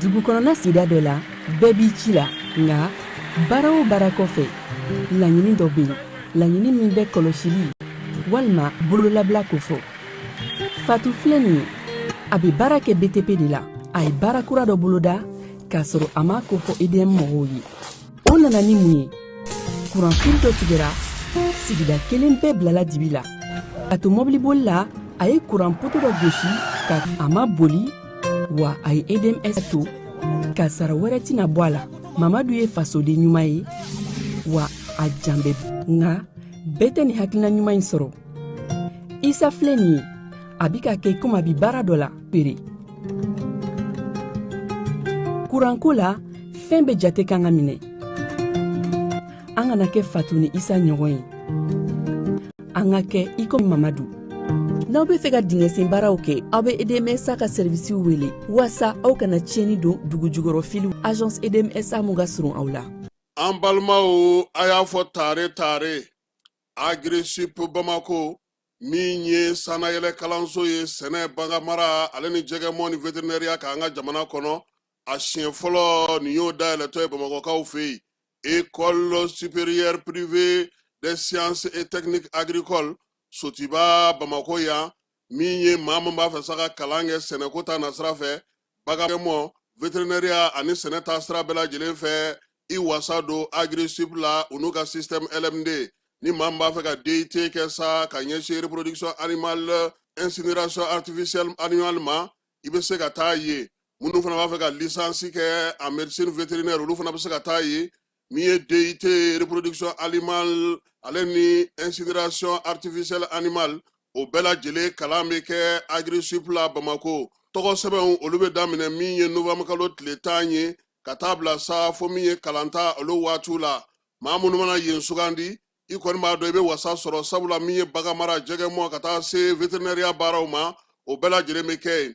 dugu kɔnɔna sida dɔ la bɛɛ b'i ci la nka baara o baara kɔfɛ laɲini dɔ bɛ yen laɲini min bɛ kɔlɔsili walima bololabila ko fɔ fatu filɛ nin ye a bɛ baara kɛ btp de la a ye baara kura dɔ boloda k'a sɔrɔ a m'a ko fɔ edm mɔgɔw ye o nana ni mun ye kuranfili dɔ tigɛra sigida kelen bɛɛ bilala dibi la a to mɔbiliboli la a ye kuran poto dɔ gosi nka a ma boli wa a ye edms to kasara wɛrɛ tɛna bɔ a la mamadu ye fasoden ɲuman ye wa a jan bɛ nka bɛɛ tɛ nin hakilina ɲuman in sɔrɔ isa filɛ nin ye a bi k'a kɛ komi a bi baara dɔ la pere kuranko la fɛn bɛɛ jate kan ka minɛ an kana kɛ fatu ni isa ɲɔgɔn ye an ka kɛ i komi mamadu n'aw be fɛ ka dingɛsen baaraw kɛ aw be edmsa ka sɛrivisiw wele waasa aw kana tiɲɛni don dugu jukɔrɔ filiw agence edmsa min ka surun aw la an balimaw a y'a fɔ tare tare agrisup bamako min ye sanayɛlɛ kalanso ye sɛnɛ baganmara ale ni jɛgɛmɔ ni veterinɛriya k'an ka jamana kɔnɔ a siɲɛ fɔlɔ nin y'o dayɛlɛtɔ ye bamakɔkaw fɛ yen école supérieure privée des sciences et techniques agricoles sotiba bamako yan min ye maa min b'a fɛ sa ka kalan kɛ sɛnɛko ta nasira fɛ baganmɔ veterinɛriya ani sɛnɛ ta sira bɛɛ lajɛlen fɛ i wasa don agrisup la u n'u ka système lmd ni maa min b'a fɛ ka dut kɛ sa ka ɲɛsin reproduction animale insémination artificielle animale ma i bɛ se ka taa ye minnu fana b'a fɛ ka lisansi kɛ en médecine vétérinaire olu fana bɛ se ka taa ye min ye DUT reproduction animale ale ni insémination artificielle animale o bɛɛ lajɛlen kalan bɛ kɛ Agrisup la Bamako tɔgɔ sɛbɛnw olu bɛ daminɛ min ye novembre kalo tile tan ye ka taa bila sa fo min ye kalanta olu waatiw la maa minnu mana yen sugandi i kɔni b'a dɔn i bɛ wasa sɔrɔ sabula min ye baganmara jɛgɛmɔ ka taa se vétérinaire baaraw ma o bɛɛ lajɛlen bɛ kɛ yen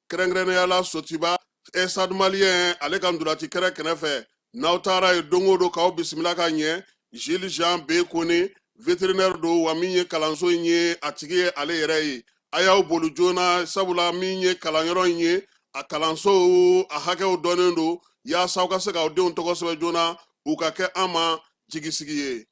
kɛrɛnkɛrɛnnenyala sotiba stade malien ale ka ntolaci kɛrɛ kɛnɛ fɛ n'aw taara ye don o don k'aw bisimila ka ɲɛ jules jean b kone veterinɛri don wa min ye kalanso in ye a tigi ye ale yɛrɛ ye a y'aw boli joona sabula min ye kalanyɔrɔ in ye a kalansow a hakɛw dɔnnen don yaasa aw ka se k'aw denw tɔgɔ sɛbɛn joona u ka kɛ an ma jigisigi ye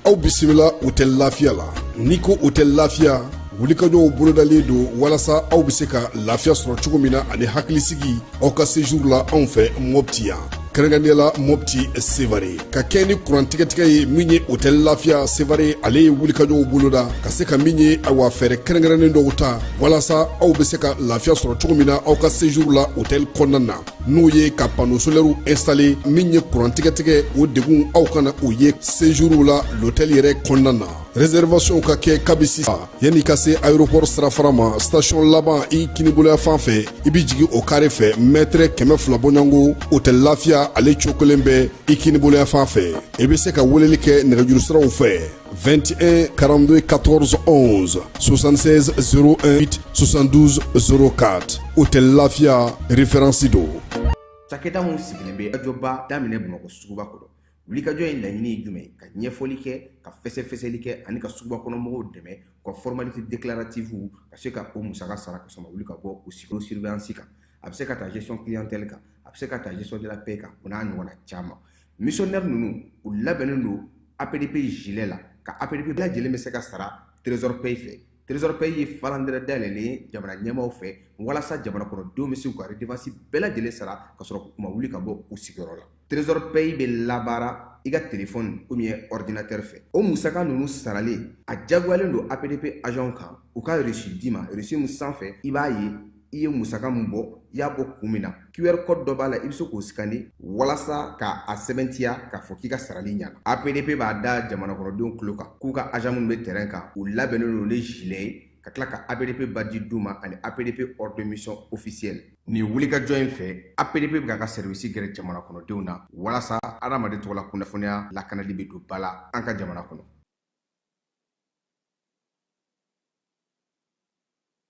aw bisimila hotɛli lafiya la n'i ko hotɛli lafiya wulikajɔw bolodalen don walasa aw bɛ se ka lafiya sɔrɔ cogo min na ani hakilisigi aw ka sejuru la anw fɛ mɔpti yan kɛrɛnkɛrɛnnenya la mɔpti sevare ka kɛɲɛ ni kurantigɛtigɛ ye min ye hotɛli lafiya sevare ale ye wulikajɔw boloda ka se ka min ye awa fɛɛrɛ kɛrɛnkɛrɛnnen dɔw ta walasa aw be se ka lafiya sɔrɔ cogo min na aw ka sejuru la hotɛli kɔnɔna na n'o ye ka pano solɛriw instale min ye kurantigɛtigɛ o degun aw kana o ye sejuru la lotɛli yɛrɛ kɔnɔna na reservasiɔnw ka kɛ kabi sisan yanni i ka se aéroport sirafara ma station laban i kiniboloya fan fɛ i bɛ jigin o kare fɛ mɛtɛrɛ kɛmɛ fila bɔɲɔgɔnko hôtel lafiya ale cokolen bɛ i kiniboloya fan fɛ i bɛ se ka weleli kɛ nɛgɛjuru siraw fɛ 21 42 14 11 76 08 72 04 hôtel lafiya référence don cakɛda minw sigilen bɛ ajɔba daminɛ bamakɔ suguba kɔnɔ wulikajɔ in laɲini ye jumɛn ye ka ɲɛfɔli kɛ ka fɛsɛfɛsɛli kɛ ani ka suguba kɔnɔ mɔgɔw dɛmɛ ka formalité déclarative ka se ka o musaka sara ka sɔrɔ u ma wuli ka bɔ u sigiyɔrɔ surveillance kan a bɛ se ka ta gestion clientèle kan a bɛ se ka ta gestion de la paie kan o n'a ɲɔgɔnna caman missionnaire ninnu u labɛnnen don APDP gilet la ka APDP bɛɛ lajɛlen bɛ se ka sara trésor pay fɛ Trésor Pay ye falandɛrɛ dayɛlɛlen ye jamana ɲɛmaaw fɛ walasa jamana kɔnɔdenw bɛ se k'u ka redevance bɛɛ lajɛlen sara ka sɔrɔ u ma wuli ka bɔ u sigiyɔrɔ la. Trésor Pay bɛ labaara i ka telefɔni ou bien ɔridinatɛri fɛ. O musaka ninnu saralen, a diyagoyalen don APDP agents kan u ka reçu d'i ma, reçu min sanfɛ i b'a ye i ye musaka min bɔ i y'a bɔ kun min na qr code dɔ b'a la i bɛ se k'o sikani walasa ka a sɛbɛntiya k'a fɔ k'i ka sarali ɲana apdp b'a da jamana kɔnɔdenw tulo kan k'u ka agent minnu bɛ terrain kan u labɛnnen don ni gilet ye ka tila ka apdp badge d'u ma ani apdp ordre de mission officiel nin wulikajɔ in fɛ apdp bɛ k'a ka sɛriwisi gɛrɛ jamana kɔnɔdenw na walasa adamaden tɔgɔla kunnafoniya lakanali bɛ don ba la an ka jamana kɔnɔ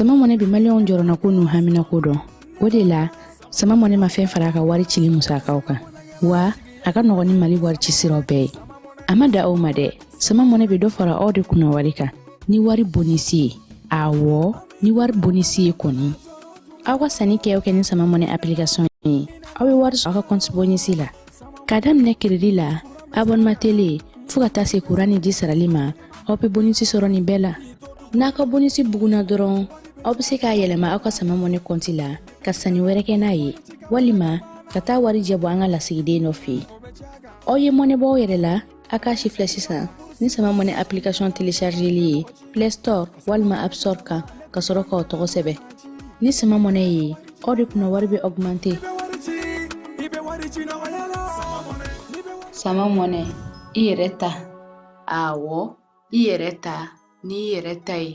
sama money bi maliyɛnw jɔrɔnako n'u haminako dɔn o de la sama money ma fɛn fara a ka wari cili musakaw kan wa a ka nɔgɔn ni mali wari ci siraw bɛɛ ye a ma dan o ma dɛ sama money bɛ dɔ fara aw de kunna wari kan ni wari bonisi ye awɔ ni wari bonisi ye kɔni aw ka sanni kɛ o kɛ ni sama mɔnɛ application ye aw bɛ wari sɔrɔ aw ka kɔnti bonisi la ka daminɛ crédit la abonnement télé fɔɔ ka taa se kuran ni ji sarali ma aw bɛ bonisi sɔrɔ nin bɛɛ la n'a ka bonisi bugunna dɔrɔn aw bɛ se k'a yɛlɛma aw ka sama mɔnɛ kɔnti la ka sanni wɛrɛ kɛ n'a ye walima ka taa warijɛ bɔ an ka lasigiden dɔ fɛ yen aw ye mɔnɛ bɔ aw yɛrɛ la a k'a sifilɛ sisan ni sama mɔnɛ application téléchargeli ye play store walima app store kan ka sɔrɔ k'aw tɔgɔ sɛbɛn ni sama mɔnɛ ye aw de kunna wari bɛ augmente sama mɔnɛ i yɛrɛ ta awɔ i yɛrɛ ta ni i yɛrɛ ta ye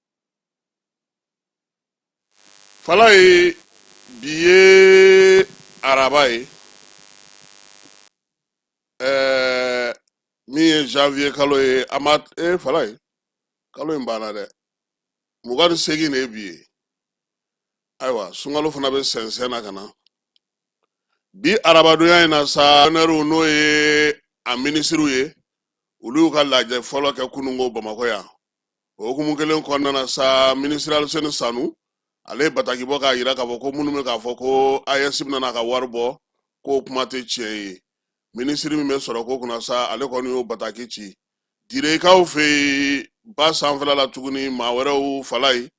falaye bi ye araba ye ɛɛ min ye janvier kalo ye a ma e falaye kalo in banna dɛ mugan ni seegin de ye bi ye ayiwa sunkalo fana bɛ sɛnsɛn na ka na bi arabadonya in na sa nɛriw n'o ye a minisiriw ye olu y'u ka lajɛ fɔlɔ kɛ kununko bamakɔ yan o hukumu kelen kɔnɔna na sa minisiri aliseni sanu ale ye bataki bɔ k'a yira k'a fɔ ko minnu bɛ k'a fɔ ko aes bɛna n'a ka wari bɔ k'o kuma tɛ tiɲɛ ye minisiri min bɛ sɔrɔko kunna sa ale kɔni y'o bataki ci direkaw fɛ yen ba sanfɛla la tuguni maa wɛrɛw falaye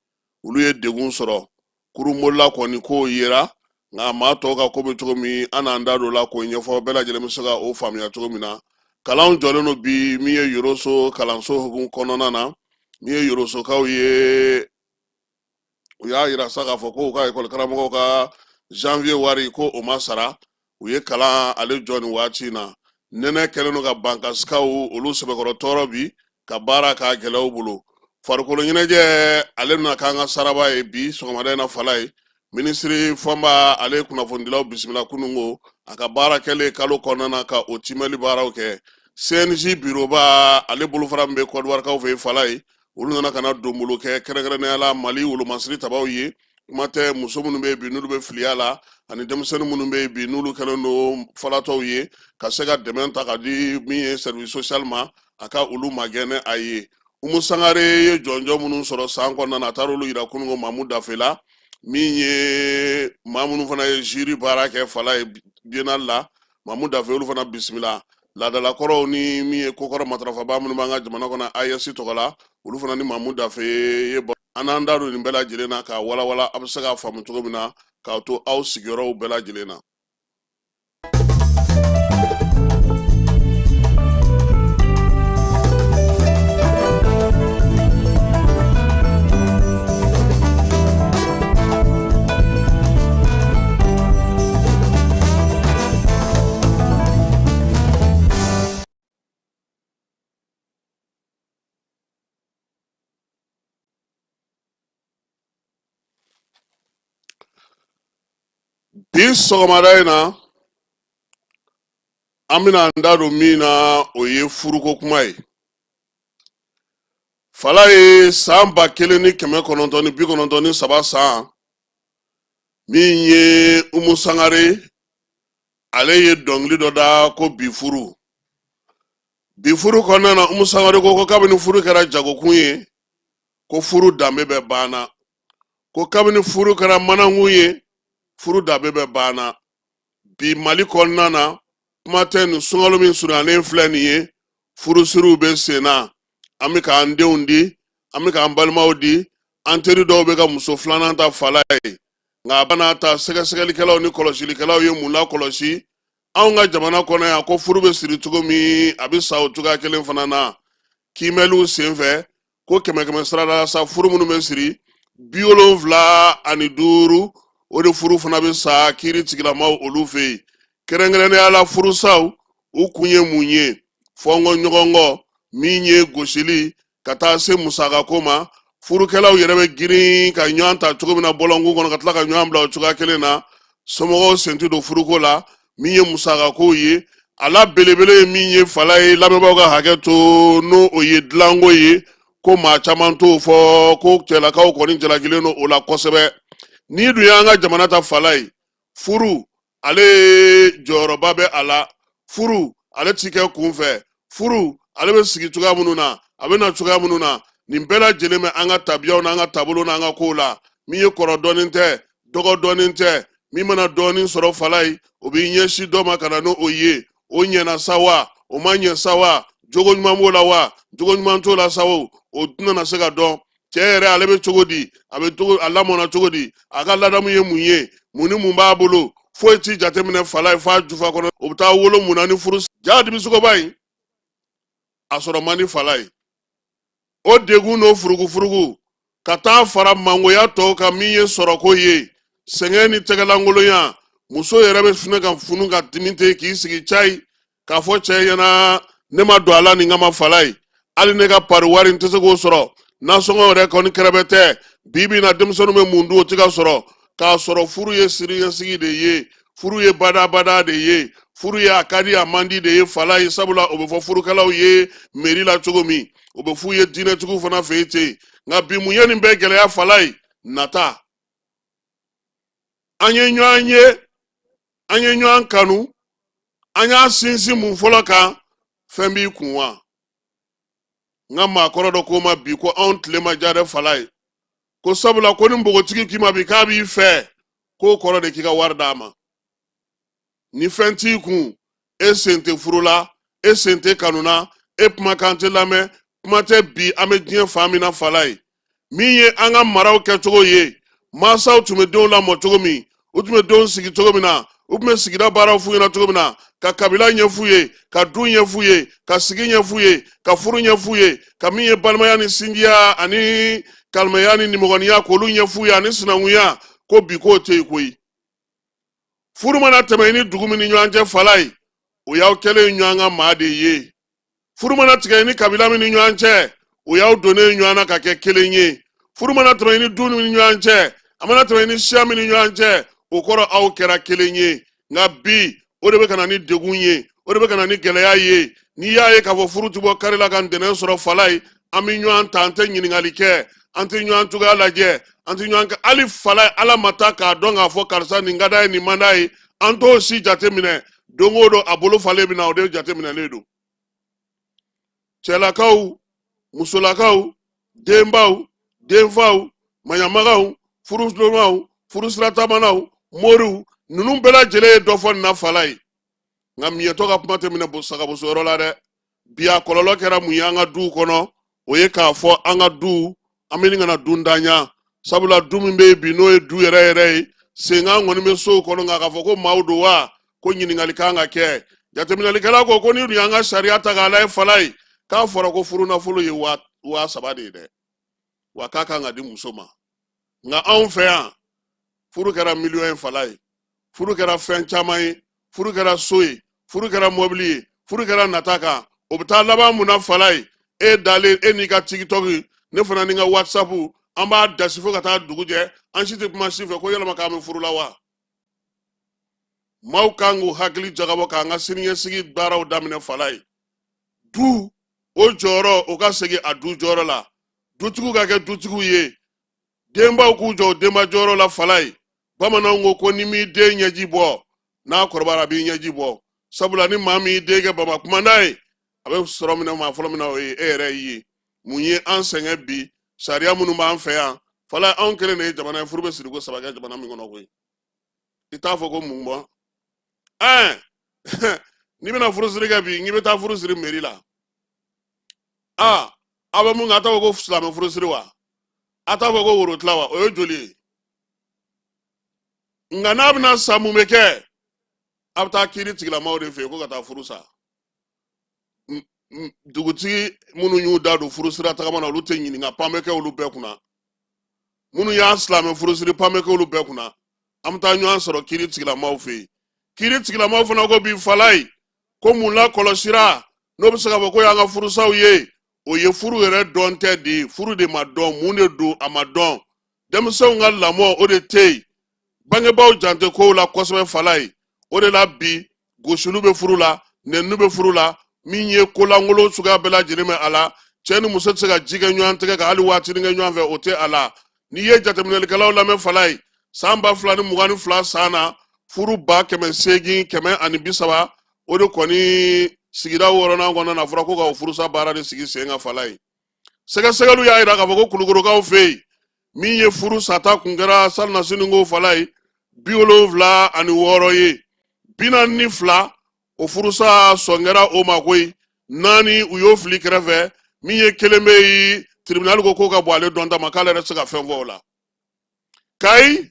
olu ye degun sɔrɔ kurunbolila kɔni k'o yera nka maa tɔw ka ko bɛ cogo min an n'an da don la k'o ɲɛfɔ bɛɛ lajɛlen bɛ se ka o faamuya cogo min na kalanw jɔlen don bi min ye yoroso kalanso hukumu kɔnɔna na min ye yorosokaw ye u y'a yira sa k'a fɔ ko u ka ekɔli karamɔgɔw ka janvier wari ko o ma sara u ye kalan ale jɔ nin waati in na nɛnɛ kɛlen don ka bankasikaw olu sɛbɛkɔrɔ tɔɔrɔ bi ka baara k'a gɛlɛya u bolo farikolo ɲɛnajɛ ale bɛna k'an ka saraba ye bi sɔgɔmada in na falaye minisiri fɔnba ale ye kunnafonidilaw bisimila kununko a ka baara kɛlen kalo kɔnɔna na ka o timɛli baaraw kɛ cnj biroba ale bolofara min bɛ kɔdiwarikaw fɛ yen falaye olu nana ka na donbolo kɛ kɛrɛnkɛrɛnnenya la mali wolomasiri tabaw ye kuma tɛ muso minnu bɛ yen bi n'olu bɛ filiya la ani denmisɛnnin minnu bɛ yen bi n'olu kɛlen don falatɔw ye ka se ka dɛmɛ ta ka di min ye service social ma a ka olu magɛn n'a ye umu sangare ye jɔnjɔn minnu sɔrɔ san kɔnɔna na a taara olu yira kununko mamu dafe la min ye maa minnu fana ye jury baara kɛ falaye biennale la mamu dafe olu fana bisimila laadalakɔrɔw ni min ye kokɔrɔ matarafabaa minnu b'an ka jamana kɔnɔ ayɛsi tɔgɔ la olu fana ni mamu dafe ye an n'an da don nin bɛɛ lajɛlen na k'a walawala a bɛ se k'a faamu cogo min na k'a to aw sigiyɔrɔw bɛɛ lajɛlen na bi sɔgɔmada in na an bɛna an da don min na o ye furuko kuma ye fala ye san ba kelen ni kɛmɛ kɔnɔntɔn ni bi kɔnɔntɔn ni saba san min ye umu sangare ale ye dɔnkili dɔ da ko bi furu bi furu kɔnɔna na umu sangare ko ko kabini furu kɛra jagokun ye ko furu danbe bɛɛ banna ko kabini furu kɛra manankun ye furu danbe bɛɛ banna bi mali kɔnɔna na kuma tɛ nin sunkalo min surunyalen filɛ nin ye furusiriw bɛ sen na an bɛ k'an denw di an bɛ k'an balimaw di an teri dɔw bɛ ka muso filanan ta fala ye nka a bɛɛ n'a ta sɛgɛsɛgɛlikɛlaw ni kɔlɔsilikɛlaw ye mun lakɔlɔsi anw ka jamana kɔnɔ yan ko furu bɛ siri cogo min a bɛ sa o cogoya kelen fana na kiimɛliw senfɛ ko kɛmɛ kɛmɛ sarada la sa furu minnu bɛ siri bi wolonfila ani duuru o de furu fana bɛ sa kiiri tigilamaaw olu fɛ yen kɛrɛnkɛrɛnnenya la furusaw u kun ye mun ye fɔnkɔ ɲɔgɔnkɔ min ye gosili ka taa se musakako ma furukɛlaw yɛrɛ bɛ girin ka ɲɔgɔn ta cogo min na bɔlɔnkun kɔnɔ ka tila ka ɲɔgɔn bila o cogoya kelen na somɔgɔw sen ti don furuko la min ye musakako ye a la belebele ye min ye fala ye lamɛnbaaw ka hakɛ to n'o ye dilanko ye ko maa caman t'o fɔ ko cɛlakaw kɔni jalakilen don o la kosɛbɛ n'i dun y'an ka jamana ta fala ye furu ale jɔyɔrɔba bɛ a la furu ale ti kɛ kunfɛ furu ale bɛ sigi cogoya minnu na a bɛ na cogoya minnu na nin bɛɛ lajɛlen bɛ an ka tabiyaw n'an ka taabolo n'an ka kow la min ye kɔrɔ dɔnnen tɛ dɔgɔ dɔnnen tɛ min mana dɔɔnin sɔrɔ fala ye o b'i ɲɛsin dɔ ma ka na n'o ye o ɲɛna sa wa o ma ɲɛ sa wa jogo ɲuman b'o la wa jogo ɲuman t'o la sa wo o tɛna se ka dɔn cɛ yɛrɛ ale bɛ cogo di a lamɔna cogo di a ka ladamu ye mun ye mun ni mun b'a bolo foyi ti jateminɛ falayi f'a jufa kɔnɔ o bɛ taa wolo mun na ni furu jaa dimisɔgɔba in a sɔrɔ man di falayi o degun n'o furugufurugu ka taa fara mangoya tɔw kan min ye sɔrɔko ye sɛgɛn ni tɛgɛlankolonya muso yɛrɛ bɛ finɛ ka funu ka dimi ten k'i sigi cayi k'a fɔ cɛ ɲɛna ne ma don a la nin kama falayi hali ne ka pari wari n tɛ se k'o sɔrɔ nasɔngɔ yɛrɛ kɔni kɛrɛbɛtɛ bi bi na denmisɛnninw bɛ mun dun o tɛ ka sɔrɔ k'a sɔrɔ furu ye siniɲɛsigi de ye furu ye badabada de ye furu ye a ka di a man di de ye falayi sabula o bɛ fɔ furukɛlaw ye meri la cogo min o bɛ f'u ye diinɛtigiw fana fɛ yen ten nka bi mun ye nin bɛɛ gɛlɛya falayi nata an ye ɲɔgɔn ye an ye ɲɔgɔn kanu an y'a sinsin mun fɔlɔ kan fɛn b'i kun wa n ka maakɔrɔ dɔ ko ma bi ko anw tile ma diya dɛ falayi ko sabula ko ni npogotigi k'i ma bi k'a b'i fɛ k'o kɔrɔ de k'i ka wari d'a ma ni fɛn t'i kun e sen tɛ furu la e sen tɛ kanu na e kumakan tɛ lamɛn kuma tɛ bi an bɛ diɲɛ fan min na falayi min ye an ka maraw kɛcogo ye mansaw tun bɛ denw lamɔ cogo min u tun bɛ denw sigi cogo min na u tun bɛ sigida baaraw f'u ɲɛna cogo min na ka kabila ɲɛf'u ye ka du ɲɛf'u ye ka sigi ɲɛf'u ye ka furu ɲɛf'u ye ka min ye balimaya ni sinjiya ani kalimaya ni nimɔgɔniya k'olu ɲɛf'u ye ani sinankunya ko bi k'o tɛ yen koyi furu mana tɛmɛ i ni dugu min ni ɲɔgɔn cɛ falayi o y'aw kɛlen ɲɔgɔn ka maa de ye furu mana tigɛ i ni kabila min ni ɲɔgɔn cɛ o y'aw donnen ɲɔgɔn na ka kɛ kelen ye furu mana tɛmɛ i ni du min ni ɲɔgɔn cɛ a mana tɛmɛ i ni siya min ni ɲɔgɔn cɛ o kɔrɔ aw kɛra kelen ye nka bi o de bɛ ka na ni degun ye o de bɛ ka na ni gɛlɛya ye n'i y'a ye k'a fɔ furu ti bɔ kari la ka ntɛnɛn sɔrɔ falayi an bɛ ɲɔgɔn ta an tɛ ɲininkali kɛ an tɛ ɲɔgɔn cogoya lajɛ an tɛ ɲɔgɔn kɛ hali falayi ala ma taa k'a dɔn k'a fɔ karisa nin ka d'a ye nin man d'a ye an t'o si jateminɛ don o don a bolo falen bɛ na o de jateminɛlen don cɛlakaw musolakaw denbaw denfaw maɲamagaw furusiramaw furusiratamanaw moriw ninnu bɛɛ lajɛlen ye dɔ fɔ nin na falayi nka miyɛtɔ ka kuma tɛ minɛ sagaboso yɔrɔ la dɛ bi a kɔlɔlɔ kɛra mun ye an ka duw kɔnɔ o ye k'a fɔ an ka du an bɛ ɲini ka na duntanya sabula du min bɛ yen bi n'o ye du yɛrɛ yɛrɛ ye senkan kɔni bɛ sow kɔnɔ nka k'a fɔ ko maaw don wa ko ɲininkali kan ka kɛ jateminɛlikɛla ko ko n'i dun y'an ka sariya ta k'a lajɛ falayi k'a fɔra ko furunafolo ye waa saba de ye dɛ wa k'a kan ka di muso ma nka anw fɛ yan furu kɛra miliyɔn ye falayi furu kɛra fɛn caman ye furu kɛra so ye furu kɛra mɔbili ye furu kɛra nata kan o bɛ taa laban mun na falayi e dalen e n'i ka tikitɔki ne fana ni n ka whatsapu an b'a dasi fo ka taa dugu jɛ an si tɛ kuma si fɛ ko yɛlɛma k'an bɛ furu la wa maaw kan k'u hakili jagabɔ k'an ka siniɲɛsigi baaraw daminɛ falayi du o jɔyɔrɔ o ka segin a du jɔyɔrɔ la dutigiw ka kɛ dutigiw ye denbaw k'u jɔ denba jɔyɔrɔ la falayi bamananw ko ko n'i m'i den ɲɛji bɔ n'a kɔrɔbayara a b'i ɲɛji bɔ sabula ni maa min y'i den kɛ bama kumanda ye a bɛ sɔrɔ minɛ maa fɔlɔ min na o ye e yɛrɛ ye mun ye an sɛgɛn bi sariya minnu b'an fɛ yan falayi anw kelen de ye jamana ye furu bɛ siriko saba kɛ jamana min kɔnɔ koyi i t'a fɔ ko mun bɔ ɛɛ n'i bɛna furusiri kɛ bi n'i bɛ taa furu siri meri la aa aw bɛ mun kɛ a t'a fɔ ko silamɛ furusiri wa a t'a fɔ ko worotila wa o ye joli ye nka n'a bɛna sa mun bɛ kɛ a bɛ taa kiiritigɛlamaaw de fɛ yen ko ka taa furu sa dugutigi minnu y'u da don furusira tagama na olu tɛ ɲininka pan bɛ kɛ olu bɛɛ kunna minnu y'a silamɛ furu siri pan bɛ kɛ olu bɛɛ kunna an bɛ taa ɲɔgɔn sɔrɔ kiiritigɛlamaaw fɛ yen kiiritigɛlamaaw fana ko bi falayi ko min lakɔlɔsira n'o bɛ se ka fɔ ko y'an ka furusaw ye o ye furu yɛrɛ dɔn tɛ de ye furu de ma dɔn mun de don a ma dɔn denmisɛnw ka lamɔ o de tɛ yen bangebaaw jan tɛ kow la kosɛbɛ falayi o de la bi gosiliw bɛ furu la nɛniniw bɛ furu la min ye kolankolon suguya bɛɛ lajɛlen bɛ a la cɛ ni muso tɛ se ka ji kɛ ɲɔgɔn tɛgɛ ka hali waatinin kɛ ɲɔgɔn fɛ o tɛ a la n'i ye jateminɛlikɛlaw lamɛn falayi san ba fila ni mugan ni fila san na furu ba kɛmɛ seegin kɛmɛ ani bi saba o de kɔni sigida wɔɔrɔnan kɔnɔna na a fɔra ko ka o furusa baara de sigi sen kan falayi sɛgɛsɛgɛliw y'a jira k'a fɔ ko kulukorokaw fɛ yen min ye furu sata kun kɛra salinasini ko falayi bi wolonfila ani wɔɔrɔ ye bi naani ni fila o furusa sɔn kɛra o ma koyi naani u y'o fili kɛrɛfɛ min ye kelen bɛ yen tiribinali ko k'o ka bon ale dɔnta ma k'ale yɛrɛ tɛ se ka fɛn fɔ o la kayi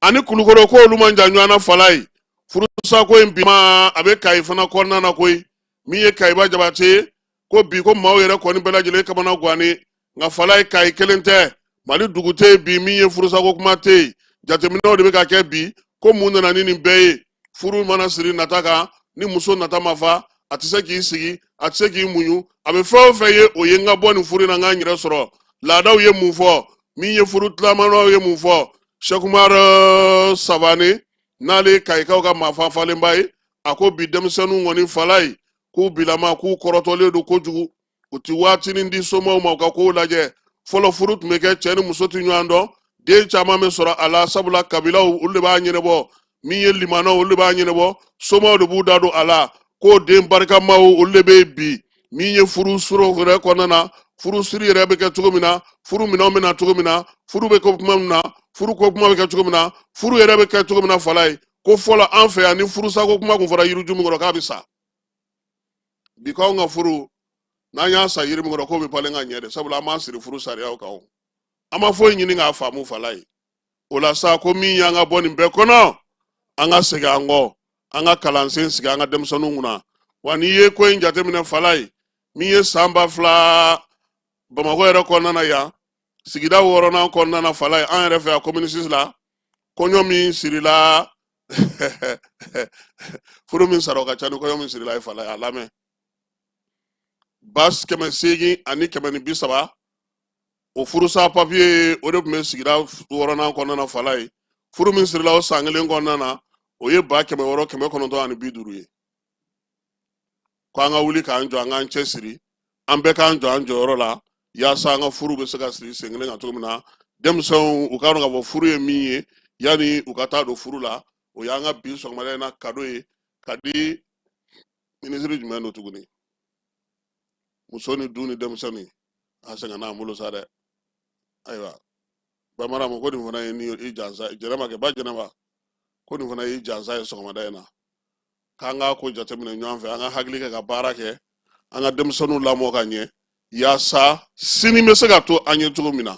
ani kulukoro ko olu man jan ɲɔgɔn na falayi furusako in bi ma a bɛ kayi fana kɔnɔna na koyi min ye kayiba jabate ye ko bi ko maaw yɛrɛ kɔni bɛɛ lajɛlen kamanagwannen nka falayi kayi kelen tɛ mali dugu tɛ yen bi min ye furusako kuma tɛ yen jateminɛw de bɛ ka kɛ bi ko mun nana ni nin bɛɛ ye furu mana siri nata kan ni muso nata ma fa a tɛ se k'i sigi a tɛ se k'i muɲu a bɛ fɛn o fɛn ye o ye n ka bɔ nin furu in na n ka n yɛrɛ sɔrɔ laadaw ye mun fɔ min ye furu tilamanaw ye mun fɔ sɛkumar savane n'ale ye kayikaw ka maafa falenba ye a ko bi denmisɛnninw kɔni falayi k'u bilama k'u kɔrɔtɔlen don kojugu u ti waatinin di somɔgɔw ma u ka kow lajɛ fɔlɔ furu tun bɛ kɛ cɛ ni muso tɛ ɲɔgɔn dɔn den caman bɛ sɔrɔ a la sabula kabilaw olu de b'a ɲɛnabɔ min ye limanaw olu de b'a ɲɛnabɔ somɔgɔw de b'u da don a la k'o den barikamaw olu de bɛ yen bi min ye furuso yɛrɛ kɔnɔna na furu siri yɛrɛ bɛ kɛ cogo min na furu minɛnw bɛ na cogo min na furu bɛ kɛ kuma min na furu ko kuma bɛ kɛ cogo min na furu yɛrɛ bɛ kɛ cogo min na falaye ko fɔlɔ an fɛ yan ni furusako kuma kun fɔra yiriju min kɔrɔ k'a bɛ sa bi k'anw ka furu n'an y'a sa yiri min kɔrɔ k'o bɛ falen ka ɲɛ de sabula an m'an siri furu sariyaw kan an ma foyi ɲini k'a faamu falaye o la sa ko min y'an ka bɔ nin bɛɛ kɔnɔ an ka segin an kɔ an ka kalansen sigi an ka denmisɛnninw kunna wa n'i ye ko in jateminɛ falaye min ye san ba fila bamakɔ yɛrɛ kɔnɔna na yan sigida wɔɔrɔnan kɔnɔna na falaye an yɛrɛ fɛ yan komini sisi la kɔɲɔ min sirila furu min sara o ka ca ni kɔɲɔ min sirila ye falaye a lamɛn ba kɛmɛ seegin ani kɛmɛ ni bi saba o furusa papiye ye o de tun bɛ sigida wɔɔrɔnan kɔnɔna na falaye furu min sirila o san kelen kɔnɔna na o ye ba kɛmɛ wɔɔrɔ kɛmɛ kɔnɔntɔn ani bi duuru ye ko an ka wuli k'an jɔ an k'an cɛ siri an bɛɛ k'an jɔ an jɔyɔrɔ la yaasa an ka furu bɛ se ka siri sen kelen kan cogo min na denmisɛnw u k'a dɔn k'a fɔ furu ye min ye yanni u ka taa don furu la o y'an ka bi sɔgɔmada in na kado ye ka di minisiri jumɛn don tuguni muso ni du ni denmisɛnnin a sɛgɛnna an bolo sa dɛ ayiwa ba marama ko nin fana ye ni i jansa jɛnɛba kɛ ba jɛnɛba ko nin fana y'i jansa ye sɔgɔmada in na k'an k'a ko jateminɛ ɲɔgɔn fɛ an ka hakili kɛ ka baara kɛ an ka denmisɛnninw lamɔ ka ɲɛ yaasa sini bɛ se ka to an ye cogo min na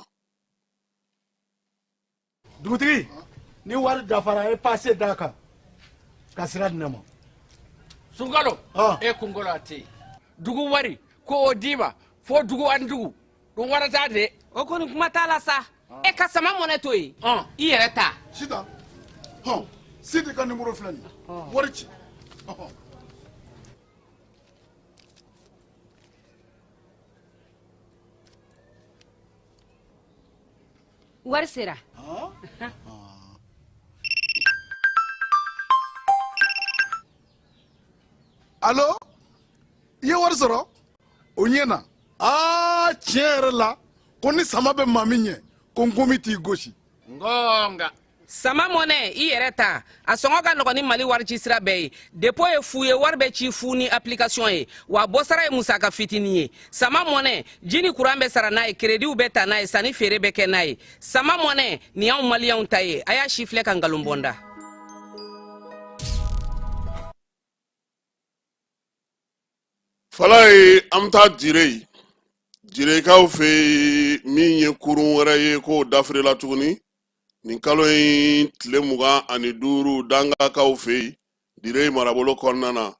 dugutigi ni wari dafara ye pase d'a kan ka sira di ne ma sunkalo e kunkolo a tɛ yen dugu wari ko o d'i ma fo dugu ani dugu o wari ta de. o kɔni kuma t'a la sa. Ah. e ka sama mɔnɛ to yen. ɔn i yɛrɛ ta. sitan hɔn sidi ka nimoro filɛ nin ye ah. wari ci. wari sera. alo i ye wari sɔrɔ. o ɲɛna aa tiɲɛ yɛrɛ la ko ni sama bɛ maa min ɲɛ ko nkomi t'i gosi ngɔnga sama mɔnɛ i yɛrɛ ta a sɔngɔ ka nɔgɔn ni mali warici sira bɛɛ ye depo ye fu ye wari bɛ ci fu ni application ye wa bɔsara ye musaka fitinin ye sama mɔnɛ ji ni kuran bɛ sara n'a ye kerediw bɛ ta n'a ye sanni feere bɛ kɛ n'a ye sama mɔnɛ nin y'anw maliyɛnw ta ye a y'a sifilɛ ka nkalon bɔnda falayi an bɛ taa dire direkaw fɛ yen min ye kurun wɛrɛ ye k'o dafirila tuguni nin kalo in tile mugan ani duuru dangakaw fɛ yen dire marabolo kɔnɔna na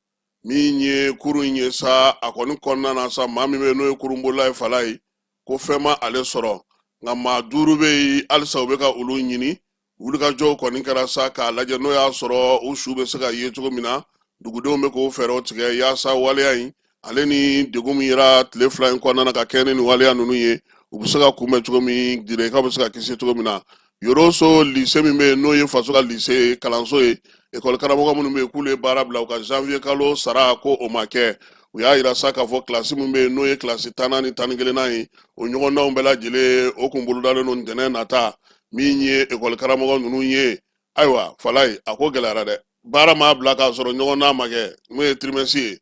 min ye kurun in ye sa a kɔni kɔnɔna na sa maa min bɛ n'o ye kurunbolila ye falayi ko fɛn ma ale sɔrɔ nka maa duuru bɛ yen halisa u bɛ ka olu ɲini wulikajɔw kɔni kɛra sa k'a lajɛ n'o y'a sɔrɔ u su bɛ se ka ye cogo min na dugudenw bɛ k'o fɛɛrɛw tigɛ yaasa waleya in ale ni degun min yera tile fila in kɔnɔna na ka kɛɲɛ ni nin waleya ninnu ye u bɛ se ka kunbɛn cogo min direkaw bɛ se ka kisi cogo min na yoroso lise min bɛ yen n'o ye faso ka lise kalanso ye ekɔli karamɔgɔ minnu bɛ yen k'olu ye baara bila u ka janvier kalo sara ko o ma kɛ u y'a yira sa k'a fɔ kilasi min bɛ yen n'o ye kilasi tannan ni tan ni kelennan ye o ɲɔgɔndanw bɛɛ lajɛlen o kun bolodalen don ntɛnɛn nata min ye ekɔli karamɔgɔ ninnu ye ayiwa falayi a ko gɛlɛyara dɛ baara maa bila k'a sɔrɔ ɲɔgɔndan ma kɛ n'o ye tirimɛsi ye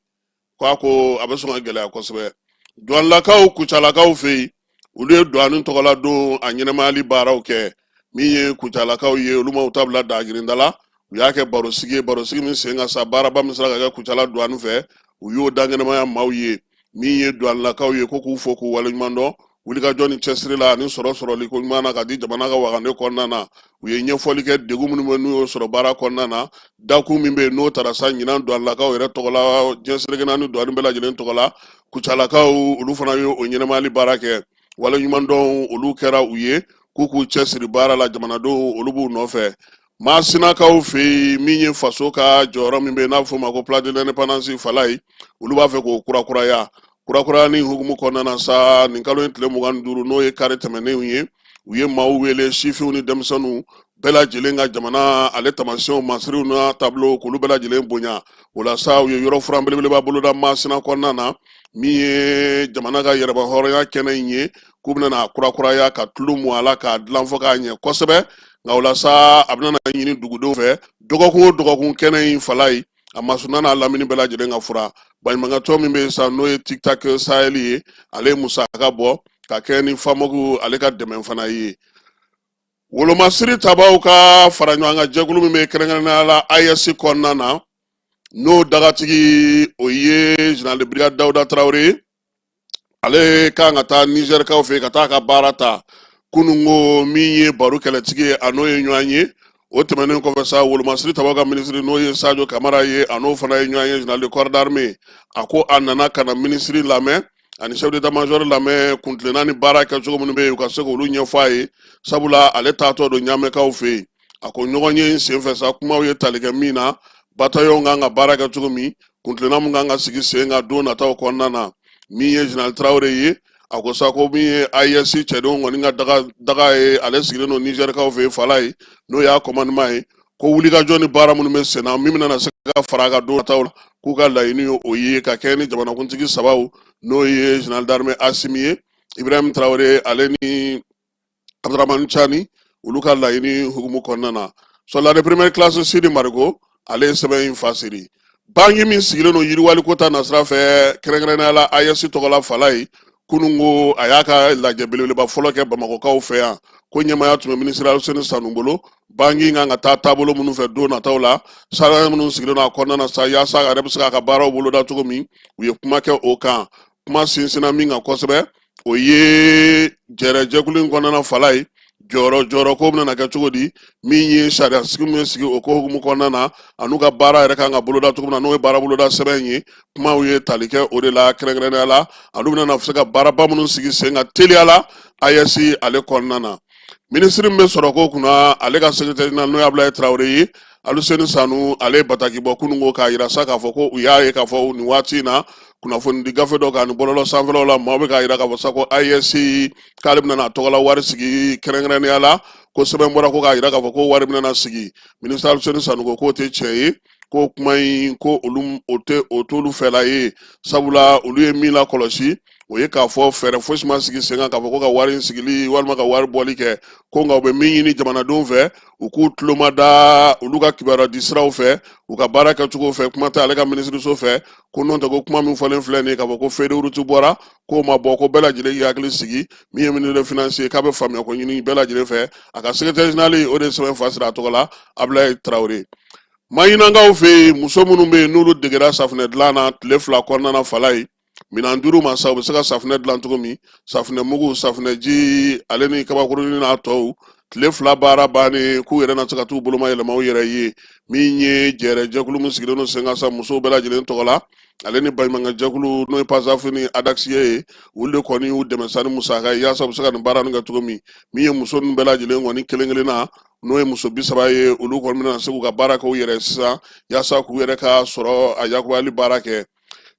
ko a ko a bɛ sɔn ka gɛlɛya kosɛbɛ duwanilakaw kucalakaw fɛ yen olu ye duwani tɔgɔladon a ɲɛnamayali baaraw kɛ min ye kucalakaw ye olu ma u ta bila dagirinda la u y'a kɛ barosigi ye barosigi min sen kan sa baaraba min sera ka kɛ kucala duwani fɛ u y'o da ɲɛnamaya maaw ye min ye duwanilakaw ye ko k'u fo k'u waleɲuman dɔn wulikajɔ ni cɛsiri la ani sɔrɔ sɔrɔli ko ɲuman na ka di jamana ka wagande kɔnɔna na u ye ɲɛfɔli kɛ degun minnu bɛ n'u y'o sɔrɔ baara kɔnɔna na dakun min bɛ yen n'o tara sa ɲinan duwanilakaw yɛrɛ tɔgɔ la diɲɛ seleke naani duwani bɛɛ lajɛlen tɔgɔ la kucalakaw olu fana ye o ɲɛnamayali baara kɛ waleɲumandɔn olu kɛra u ye k'u k'u cɛsiri baara la jamanadenw olu b'u nɔfɛ Maasinakaw fɛ yen min ye faso ka jɔyɔrɔ min bɛ n'a bɛ f'o ma ko place de l'indépendance falayi olu b'a fɛ k'o kurakuraya kurakuraya nin hukumu kɔnɔna na sa nin kalo in tile mugan ni duuru n'o ye kari tɛmɛnenw ye u ye maaw wele sifinw ni denmisɛnninw bɛɛ lajɛlen ka jamana ale taamasiyɛnw masiriw n'a taabolo k'olu bɛɛ lajɛlen bonya o la sa u ye yɔrɔ furan belebeleba boloda maasina kɔnɔna na min ye jamana ka yɛrɛmahɔrɔnya kɛnɛ in ye k'u bɛna n'a kurakuraya ka tulu mu a la k'a dilan fɔ k'a ɲɛ kosɛbɛ nka o la sa a bɛna na ɲini dugudenw fɛ dɔgɔkun o dɔgɔkun kɛnɛ in falayi a masuna n'a lamini bɛɛ lajɛlen ka furan baɲumankɛtɔn min bɛ yen sa n'o ye tiktak sahɛli ye ale ye musaka bɔ ka kɛ ni famogu ale ka dɛmɛ fana ye wolomasiri tabaw ka fara ɲɔgɔn kan jɛkulu min bɛ kɛrɛnkɛrɛnnenya la ayɛsi kɔnɔna na n'o dagatigi o ye général de brigade dawuda tarawele ye ale kan ka taa nizɛrikaw fɛ yen ka taa ka baara ta kununko min ye baru kɛlɛtigi ye a n'o ye ɲɔgɔn ye o tɛmɛnen kɔfɛ sa wolomasiri tabaw ka minisiri n'o ye sajo kamara ye a n'o fana ye ɲɔgɔn ye général de corps d'armée a ko a nana ka na minisiri lamɛn ani chef d'état major lamɛn kuntilenna ni baara kɛcogo minnu bɛ yen u ka se k'olu ɲɛfɔ a ye sabula ale taatɔ don ɲamɛkaw fɛ yen a ko ɲɔgɔn ye senfɛ sa kumaw ye tali kɛ min na batayɔn kan ka baara kɛ cogo min kuntilenna min kan ka sigi sen kan don nataw kɔnɔna na min ye general tarawele ye a ko sa ko min ye AES cɛdenw kɔni ka daga ye ale sigilen don nizɛrikaw fɛ fala ye n'o y'a kɔmandeman ye ko wulikajɔ ni baara minnu bɛ senna min bɛna se ka fara a kan don nataw la k'u ka laɲini ye o ye ka kɛ ni jamanakuntigi sabaw n'o ye general d'armée asimi ye ibrahim tarawele ale ni abdurahmani cani olu ka laɲini hukumu kɔnɔna na soldat de première classe sidi mariko ale ye sɛbɛn in fasiri banki min sigilen don yiriwali ko ta nasira fɛ kɛrɛnkɛrɛnnenya la AES tɔgɔla fala ye kunun ko a y'a ka lajɛ belebeleba fɔlɔ kɛ bamakɔkaw fɛ yan ko ɲɛmaya tun bɛ minisiri aluseni sanu bolo banki kan ka taa taabolo minnu fɛ don nataw la sariya minnu sigilen don a kɔnɔna na sa yaasa a yɛrɛ bɛ se k'a ka baaraw boloda cogo min u ye kuma kɛ o kan kuma sinsinna min kan kosɛbɛ o ye jɛrɛjɛkulu in kɔnɔna fala ye jɔyɔrɔ jɔyɔrɔ ko bɛna kɛ cogo di min ye sariya sigi min bɛ sigi o ko hukumu kɔnɔna na an'u ka baara yɛrɛ kan ka boloda cogo min na n'o ye baara boloda sɛbɛn in ye kumaw ye tali kɛ o de la kɛrɛnkɛrɛnnenya la an'u bɛna se ka baaraba minnu sigi sen kan teliya la AES ale kɔnɔna na minisiri min bɛ sɔrɔ ko kunna ale ka sekretɛri jenerali n'o ye abulayi tarawele ye Aluseni Sanu ale ye bataki bɔ kunun ko k'a yira sa k'a fɔ ko u y'a ye k'a fɔ nin waati in na kunnafoni di gafe dɔ kan ni bɔlɔlɔ sanfɛlaw la maaw bɛ k'a yira k'a fɔ sa ko AES k'ale bɛna a tɔgɔla wari sigi kɛrɛnkɛrɛnnenya la ko sɛbɛn bɔra ko k'a yira k'a fɔ ko wari bɛna sigi minisiri Aluseni Sanu ko k'o tɛ tiɲɛ ye ko kuma in ko olu o t'olu fɛla ye sabula olu ye min lakɔlɔsi o ye k'a fɔ fɛɛrɛ fosi ma sigi sen kan k'a fɔ ko ka wari sigili walima ka wari bɔli kɛ ko nka u bɛ min ɲini jamanadenw fɛ u k'u tulo mada olu ka kibaruya di siraw fɛ u ka baara kɛcogo fɛ kuma tɛ ale ka minisiriso fɛ ko n'o tɛ ko kuma min fɔlen filɛ nin ye k'a fɔ ko feuille de route bɔra k'o ma bɔ ko bɛɛ lajɛlen k'i hakili sigi min ye minisitɛri finansi ye k'a bɛ faamuya ko ɲini bɛɛ lajɛlen fɛ a ka sekretɛri jenerali o de ye sɛbɛn fasiri a tɔgɔ la abulayi tarawele maɲinankaw fɛ yen muso minnu bɛ yen n'olu degera safunɛ dilan na tile fila kɔnɔna na fala ye Minɛn duuru ma sa u bɛ se ka safunɛ dilan cogo min safunɛ mugu safunɛji ale ni kabakurunin n'a tɔw tile fila baara bannen k'u yɛrɛ na se ka t'u bolomayɛlɛma u yɛrɛ ye min ye jɛrɛjɛkulu min sigilen don sen kan sa musow bɛɛ lajɛlen tɔgɔ la ale ni baɲumankɛjɛkulu n'o ye pasaf ni adakisiye ye olu de kɔni y'u dɛmɛ sa ni musaka ye yaasa u bɛ se ka nin baara nin kɛ cogo min min ye muso ninnu bɛɛ lajɛlen kɔni kelen kelen na n'o ye muso bi saba ye olu kɔni bɛna se k'u ka baara kɛ u yɛrɛ sisan yaasa k'u yɛrɛ ka sɔrɔ a yakuyali baara kɛ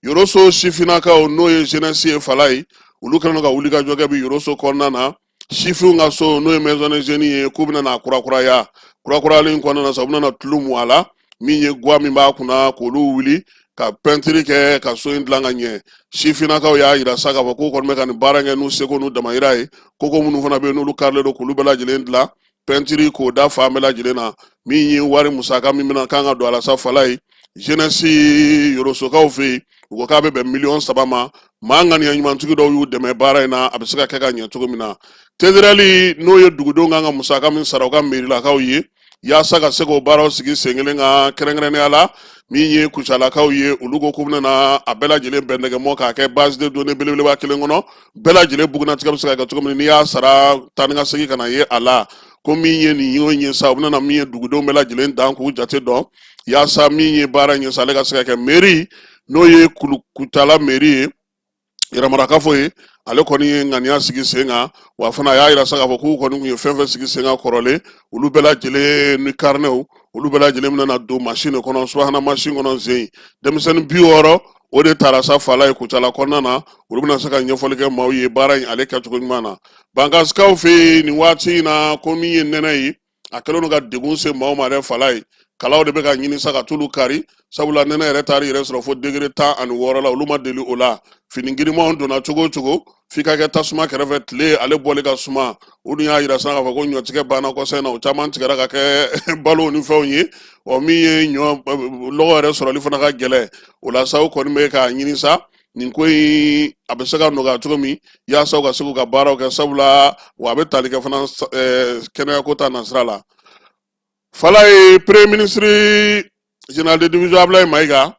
yoroso sifinnakaw n'o ye jenɛsi ye fala ye olu kɛlen don ka wulikajɔ kɛ bi yoroso kɔnɔna na sifinw ka so n'o ye maison des jeunes ye k'u bɛna na kurakuraya kurakurayali kɔnɔna na sa u bɛna na tulu mu a la min ye guwa min b'a kunna k'olu wuli ka pɛntiri kɛ ka so in dilan ka ɲɛ sifinnakaw y'a yira sa k'a fɔ k'u kɔni bɛ ka nin baara kɛ n'u seko n'u damayira ye koko minnu fana bɛ yen n'olu karilen don k'olu bɛɛ lajɛlen dilan pɛntiri k'o da fan bɛɛ lajɛlen na min ye wari musaka min bɛna kan ka don a la sa fala ye jenɛsi yorosokaw fɛ yen u ko k'a bɛ bɛn miliyɔn saba ma maa ŋaniya ɲumantigi dɔw y'u dɛmɛ baara in na a bɛ se ka kɛ ka ɲɛ cogo min na tederɛli n'o ye dugudenw kan ka musaka min sara u ka merilakaw ye yaasa ka se k'o baaraw sigi sen kelen kan kɛrɛnkɛrɛnnenya la min ye kucalakaw ye olu ko k'u bɛna a bɛɛ lajɛlen bɛn ɲɔgɔn ma k'a kɛ base de données belebeleba kelen kɔnɔ bɛɛ lajɛlen bugunnatigɛ bɛ se ka kɛ cogo min n'i y'a sara taa ni ka segin ka na ye a la ko min ye nin y'o ɲɛ sa u bɛna min ye dugudenw bɛɛ lajɛlen dan k'u jate dɔn yaasa min ye baara ɲɛ sa ale ka se ka kɛ meri n'o ye kucala meri ye yɛrɛmarakafo ye ale kɔni ye ŋaniya sigi sen kan wa fana a y'a yira sa k'a fɔ k'u kɔni tun ye fɛn fɛn sigi sen kan kɔrɔlen olu bɛɛ lajɛlen ni karinɛw olu bɛɛ lajɛlen bɛna don masin de kɔnɔ subahana masin kɔnɔ zen denmisɛnnin bi wɔɔrɔ o de taara sa fala ye kucala kɔnɔna na olu bɛna se ka ɲɛfɔli kɛ maaw ye baara in ale kɛcogo ɲuman na bankasikaw fɛ yen nin waati in na ko min ye nɛnɛ ye a kɛlen don ka degun se maaw ma dɛ fala ye kalaw de bɛ ka ɲini sa ka t'olu kari sabula nɛnɛ yɛrɛ taar'i yɛrɛ sɔrɔ fo degere tan ani wɔɔrɔ la olu ma deli o la fini girimanw donna cogo o cogo f'i ka kɛ tasuma kɛrɛfɛ tile ale bɔli ka suma o dun y'a yira sisan k'a fɔ ko ɲɔtigɛ banna kɔsa in na o caman tigɛra ka kɛ balo ni fɛnw ye ɔ min ye ɲɔ lɔgɔ yɛrɛ sɔrɔli fana ka gɛlɛn o la sa u kɔni bɛ k'a ɲini sa nin ko in a bɛ se ka nɔgɔya cogo min yaasa u ka se k'u ka baaraw kɛ sabula wa a bɛ tali kɛ fana kɛnɛyako ta nasira la fala ye premier ministre général de division ablaye mayiga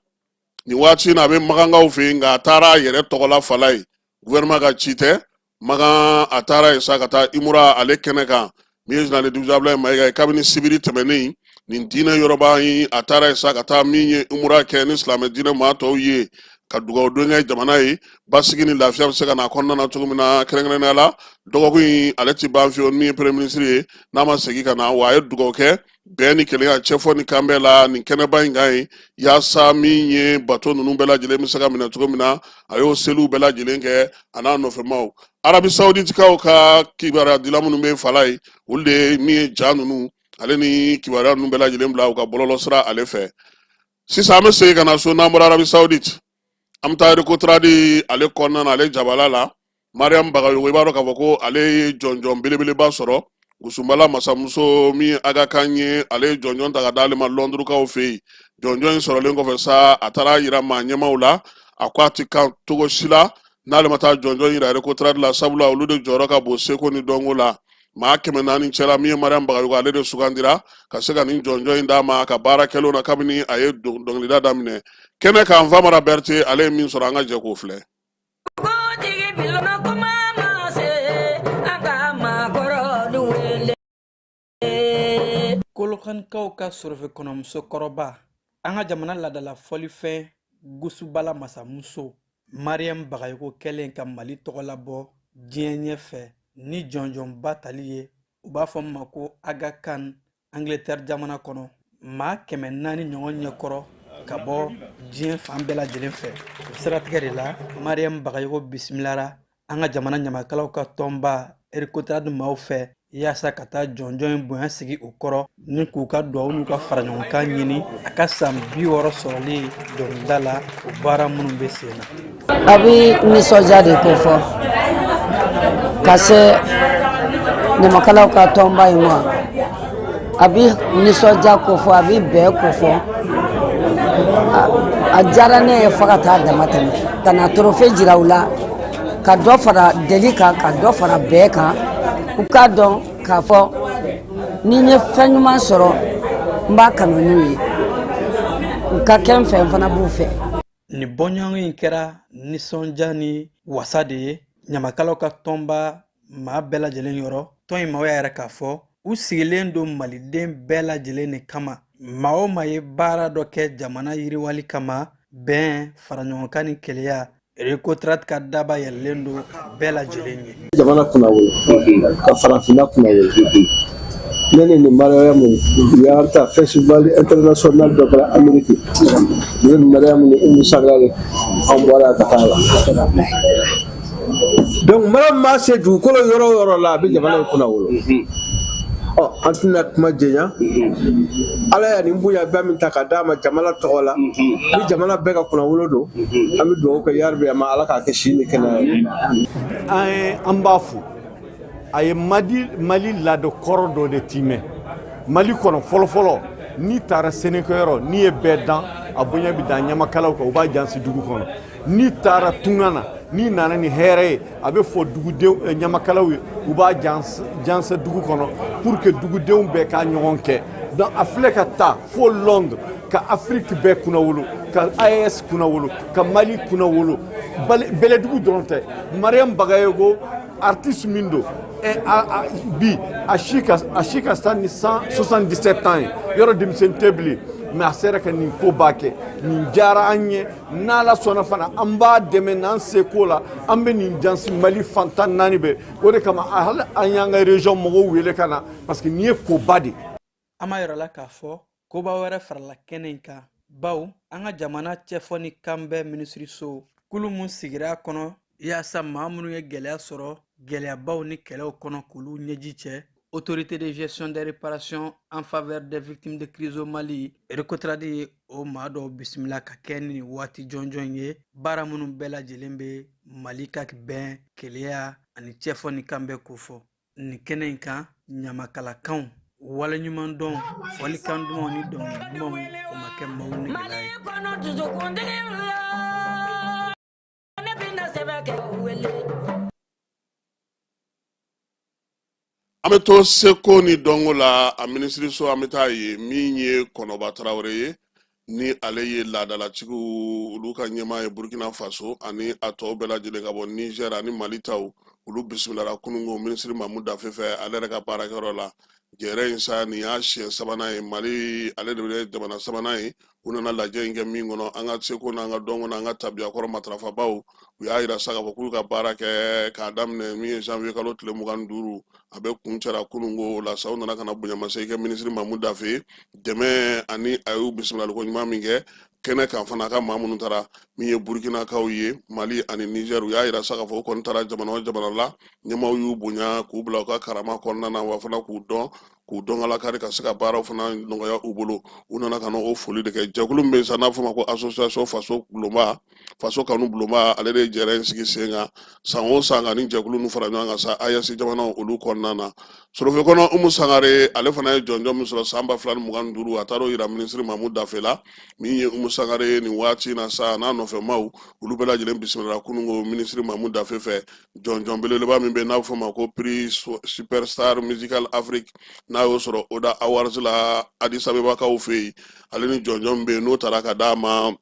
nin waati na a bɛ makankaw fɛ yen nka a taara a yɛrɛ tɔgɔ la fala ye gouvernement ka ci tɛ makan a taara yen sa ka taa imura ale kɛnɛ kan min ye général de division Abdoulaye Mayiga ye kabini sibiri tɛmɛnen nin diinɛ yɔrɔba in a taara yen sa ka taa min ye imura kɛ ni silamɛ diinɛ maa tɔw ye ka dugawu don kɛ jamana ye basigi ni lafiya bɛ se ka na a kɔnɔna na cogo min na kɛrɛnkɛrɛnnenya la dɔgɔkun in ale ti ban fiyewu min ye premier ministre ye n'a ma segin ka na wa a ye dugawu kɛ bɛn ni kelenya cɛfɔ ni kanbɛn la nin kɛnɛba in kan yen yaasa min ye bato ninnu bɛɛ lajɛlen bɛ se ka minɛ cogo min na a y'o seliw bɛɛ lajɛlen kɛ a n'a nɔfɛmaw arabi sawuditikaw ka kibaruya dila minnu bɛ fala ye olu de ye min ye ja ninnu ale ni kibaruya ninnu bɛɛ lajɛlen bila u ka bɔlɔlɔ sira ale fɛ sisan an bɛ segin ka na so n'an bɔra arabi sawuditi an bɛ taa rikoturadi ale kɔnɔna na ale jabala la mariam bagayogo i b'a dɔn k'a fɔ ko ale ye jɔnjɔn belebeleba sɔrɔ gusunbala masamuso min ye aga khan ye ale ye jɔnjɔn ta ka d'ale ma lɔndurukaw fɛ yen jɔnjɔn in sɔrɔlen kɔfɛ sa a taar'a yira maa ɲɛmaw la a ko a tɛ kan cogo si la n'ale ma taa jɔnjɔn yira rikoturadi la sabula olu de jɔyɔrɔ ka bon seko ni dɔnko la maa kɛmɛ naani cɛla min ye mariam bagayogo ale de sugandira ka se ka nin jɔnjɔn in d'a ma a ka baara kɛlenw na kabini a ye dɔnkilida daminɛ kɛnɛ kan famara bɛrite ale ye min sɔrɔ an ka jɛ k'o filɛ kolokanikaw ka sorofe kɔnɔ musokɔrɔba an ka jamana laadala fɔlifɛn gusubala masamuso mariyamu bagayoko kɛlen ka mali tɔgɔ labɔ diɲɛ ɲɛfɛ ni jɔnjɔnba tali ye u b'a fɔ min ma ko aga kan angletɛri jamana kɔnɔ maa kɛmɛ naani ɲɔgɔn ɲɛkɔrɔ ka bɔ diɲɛ fan bɛɛ lajɛlen fɛ o siratigɛ de la mariyamu bagayogo bisimilara an ka jamana ɲamakalaw ka tɔnba rekotrad maaw fɛ yaasa ka taa jɔnjɔn in bonya sigi u kɔrɔ ni k'u ka duwawu n'u ka faraɲɔgɔnkan ɲini a ka san bi wɔɔrɔ sɔrɔli dɔnkilida la o baara minnu bɛ sen na a bɛ nisɔndiya de ko fɔ ka se ɲamakalaw ka tɔnba in ma a bɛ nisɔndiya ko fɔ a bɛ bɛn ko fɔ a diyara ne ye fo ka taa damatɛmɛ ka na torofe jira u la ka dɔ fara deli kan ka dɔ fara bɛn kan u k'a dɔn k'a fɔ ni n ye fɛn ɲuman sɔrɔ n b'a kanu n'u ye u ka kɛ n fɛ n fana b'u fɛ Ni bɔɲɔgɔn in kɛra nisɔndiya ni wasa de ye ɲamakalaw ka tɔnba maa bɛɛ lajɛlen yɔrɔ tɔn in maaw y'a yira k'a fɔ u sigilen don maliden bɛɛ lajɛlen de kama maa o maa ye baara dɔ kɛ jamana yiriwali kama bɛn faraɲɔgɔnkan ni kelenya rekotrad ka daba yɛlɛlen don bɛɛ lajɛlen ye jamana kunnawolo ka farafinna kunnawolo ne ni nin mariyamu u y'an ta festival international dɔ kɛra ameriki ne ni mariyamu ni umu sangare an bɔra ka taa la donc mariyamu maa se dugukolo yɔrɔ o yɔrɔ la a bɛ jamana in kunnawolo ɔ an tɛna kuma janya ala ye nin bonya bɛɛ min ta ka d'a ma jamana tɔgɔ la ni jamana bɛɛ ka kunnawolo don an bɛ dugawu kɛ yarabi a ma ala k'a kɛ si ni kɛnɛya ye an ye an b'a fo a ye madi mali laada kɔrɔ dɔ de timɛ mali kɔnɔ fɔlɔfɔlɔ n'i taara sɛnɛkɛyɔrɔ n'i ye bɛɛ dan a bonya bɛ da ɲamakalaw kan u b'a jɛnsɛn dugu kɔnɔ n'i taara tunga na n'i nana ni hɛrɛ ye a bɛ fɔ dugudenw eh, ɲamakalaw ye u b'a jɛnsɛn dugu kɔnɔ pour que dugudenw bɛɛ k'a ɲɔgɔn kɛ donc a filɛ ka taa fo londres ka afiriki bɛɛ kunnawolo ka aes kunnawolo ka mali kunnawolo bɛlɛdugu dɔrɔn tɛ mariam bagayogo artiste min don bi a si ka ca ni 77 ans ye yɔrɔ denmisɛnnin tɛ bilen mais a sera ka nin koba kɛ nin diyara an ye n'ala sɔnna fana an b'a dɛmɛ n'an seko la an bɛ nin jansi mali fan tan naani bɛɛ o de kama hali an y'an ka région mɔgɔw wele ka na parce que nin ye koba de ye an b'a yira aw la k'a fɔ koba wɛrɛ farala kɛnɛ in kan bawo an ka jamana cɛfɔ ni kanbɛn minisiriso kulu mun sigira a kɔnɔ yaasa maa minnu ye gɛlɛya sɔrɔ gɛlɛyabaw ni kɛlɛw kɔnɔ k'olu ɲɛji cɛ autorité de gestion des réparations en faveur des victimes de crise au mali recotradi o maa dɔw bisimila ka kɛɲɛ ni nin waati jɔnjɔn ye baara minnu bɛɛ lajɛlen bɛ mali ka bɛn kelenya ani cɛfɔ ni kanbɛn kofɔ nin kɛnɛ in kan ɲamakalakanw waleɲumandɔn fɔlikan dumanw ni dɔnkili dumanw o ma kɛ maaw negela ye kɔnɔ dusukuntigi la ne bɛna sɛbɛn kɛ wele an bɛ to seko ni dɔnko la a minisiriso an bɛ taa ye min ye kɔnɔba tarawele ye ni ale ye laadalatigiw olu ka ɲɛmaa ye burkina faso ani a tɔw bɛɛ lajɛlen ka bɔ niger ani mali taw olu bisimilara kununko minisiri mamu dafe fɛ ale yɛrɛ ka baarakɛyɔrɔ la jɛrɛ in sa nin y'a siɲɛ sabanan ye mali ale de bɛ jamana sabanan ye u nana lajɛ in kɛ min kɔnɔ an ka seko n'an ka dɔnko n'an ka tabiyakɔrɔ matarafabaw u y'a yira sa k'a fɔ k'u y'u ka baara kɛ k'a daminɛ min ye janvier kalo tile mugan ni duuru a bɛɛ kuncɛra kununko o la sa u nana ka na bonyamasegin kɛ minisiri mamu dafe de ma ani a y'u bisimilaliko ɲuman min kɛ kɛnɛ kan fana a ka maa minnu taara min ye burukinakaw ye mali ani nizɛr u y'a yira sa k'a fɔ u kɔni taara jamana o jamana la ɲɛmaaw y'u bonya k'u bila u ka karama kɔnɔna na wa fana k'u dɔn k'u dɔn kala kari ka se ka baaraw fana nɔgɔya u bolo u nana ka na o foli de kɛ jɛkulu min bɛ yen sa n'a fɔ ma ko association faso bulonba faso kanu bulonba ale de ye jɛrɛ in sigi sen kan san o san ka nin jɛkulu ninnu fara ɲɔgɔn kan sa aes jamanaw olu kɔnɔna na sorofe kɔnɔ umu sangare ale fana ye jɔnjɔn min sɔrɔ san ba fila ni mugan ni duuru a taara o yira minisiri mamu dafe la min ye umu sangare ye nin waati in na sa n'a nɔfɛ maaw olu bɛɛ lajɛlen bisimila kununko minisiri mamu dafe fɛ jɔnjɔn belebeleba min bɛ n'a bɛ fɔ ma ko prix su- superstar musical afrique n'a y'o sɔrɔ oda awards la addis abebakaw fɛ yen ale ni jɔnjɔn min bɛ yen n'o taara ka d'a ma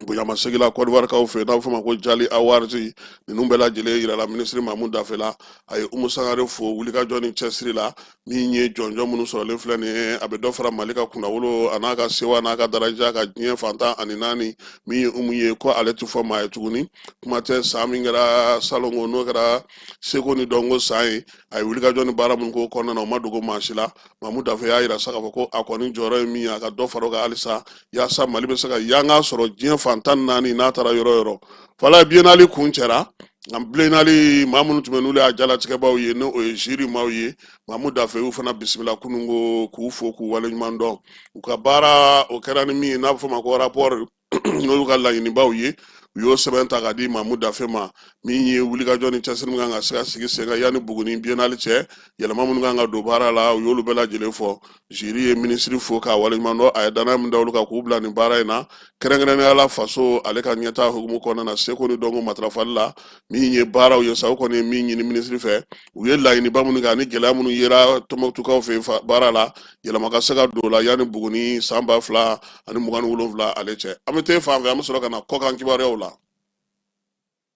bonyamasegin la kɔdiwarikaw fɛ n'a bɛ fɔ ma ko jali awards ninnu bɛɛ lajɛlen yirala minisiri mamu dafe la a ye umu sangare fo wulikajɔ ni cɛsiri la min ye jɔnjɔn minnu sɔrɔlen filɛ nin ye a bɛ dɔ fara mali ka kunnawolo an'a ka sewa n'a ka daraja kan diɲɛ fan tan ani naani min ye umu ye ko ale tɛ fɔ maa ye tuguni kuma tɛ san min kɛra salongo n'o kɛra seko ni dɔnko san ye a ye wulikajɔ ni baara minnu k'o kɔnɔna na o ma dogo maa si la mamu dafe y'a yira sa k'a fɔ ko a kɔni jɔyɔrɔ ye min ye a ka dɔ fara o kan halisa yaasa mali bɛ se ka yanga sɔrɔ diɲɛ fan tan naani n'a taara yɔrɔ o yɔrɔ fala biennale kuncɛra an biennale maa minnu tun bɛ n'olu y'a jalatigɛbaaw ye n'o ye jury maaw ye mamu dafe y'u fana bisimila kunun ko k'u fo k'u waleɲuman dɔn u ka baara o kɛra ni min ye n'a bɛ fɔ ma ko rapport n'olu ka laɲinibaw ye u y'o sɛbɛn ta k'a di mamu dafe ma min ye wulikajɔ ni cɛsiri min kan ka se ka sigi sen kan yanni buguni biennale cɛ yɛlɛma minnu kan ka don baara la u y'olu bɛɛ lajɛlen fɔ jury ye minisiri fo k'a waleɲuman dɔn a ye danaya min da olu kan k'u bila nin baara in na kɛrɛnkɛrɛnnenya la faso ale ka ɲɛtaa hukumu kɔnɔna na seko ni dɔnko matarafali la min ye baaraw ye sa u kɔni ye min ɲini minisiri fɛ u ye laɲiniba minnu kɛ ani gɛlɛya minnu yera tɔnbukutukaw fɛ baara la yɛlɛma ka se ka don o la yanni buguni san ba fila ani mugan ni wolonwula ale cɛ an bɛ te fan fɛ an bɛ sɔrɔ ka na kɔkan kibaruyaw la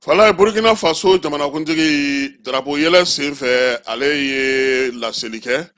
fala burukina faso jamanakuntigi darapo yɛlɛ senfɛ ale ye laseli kɛ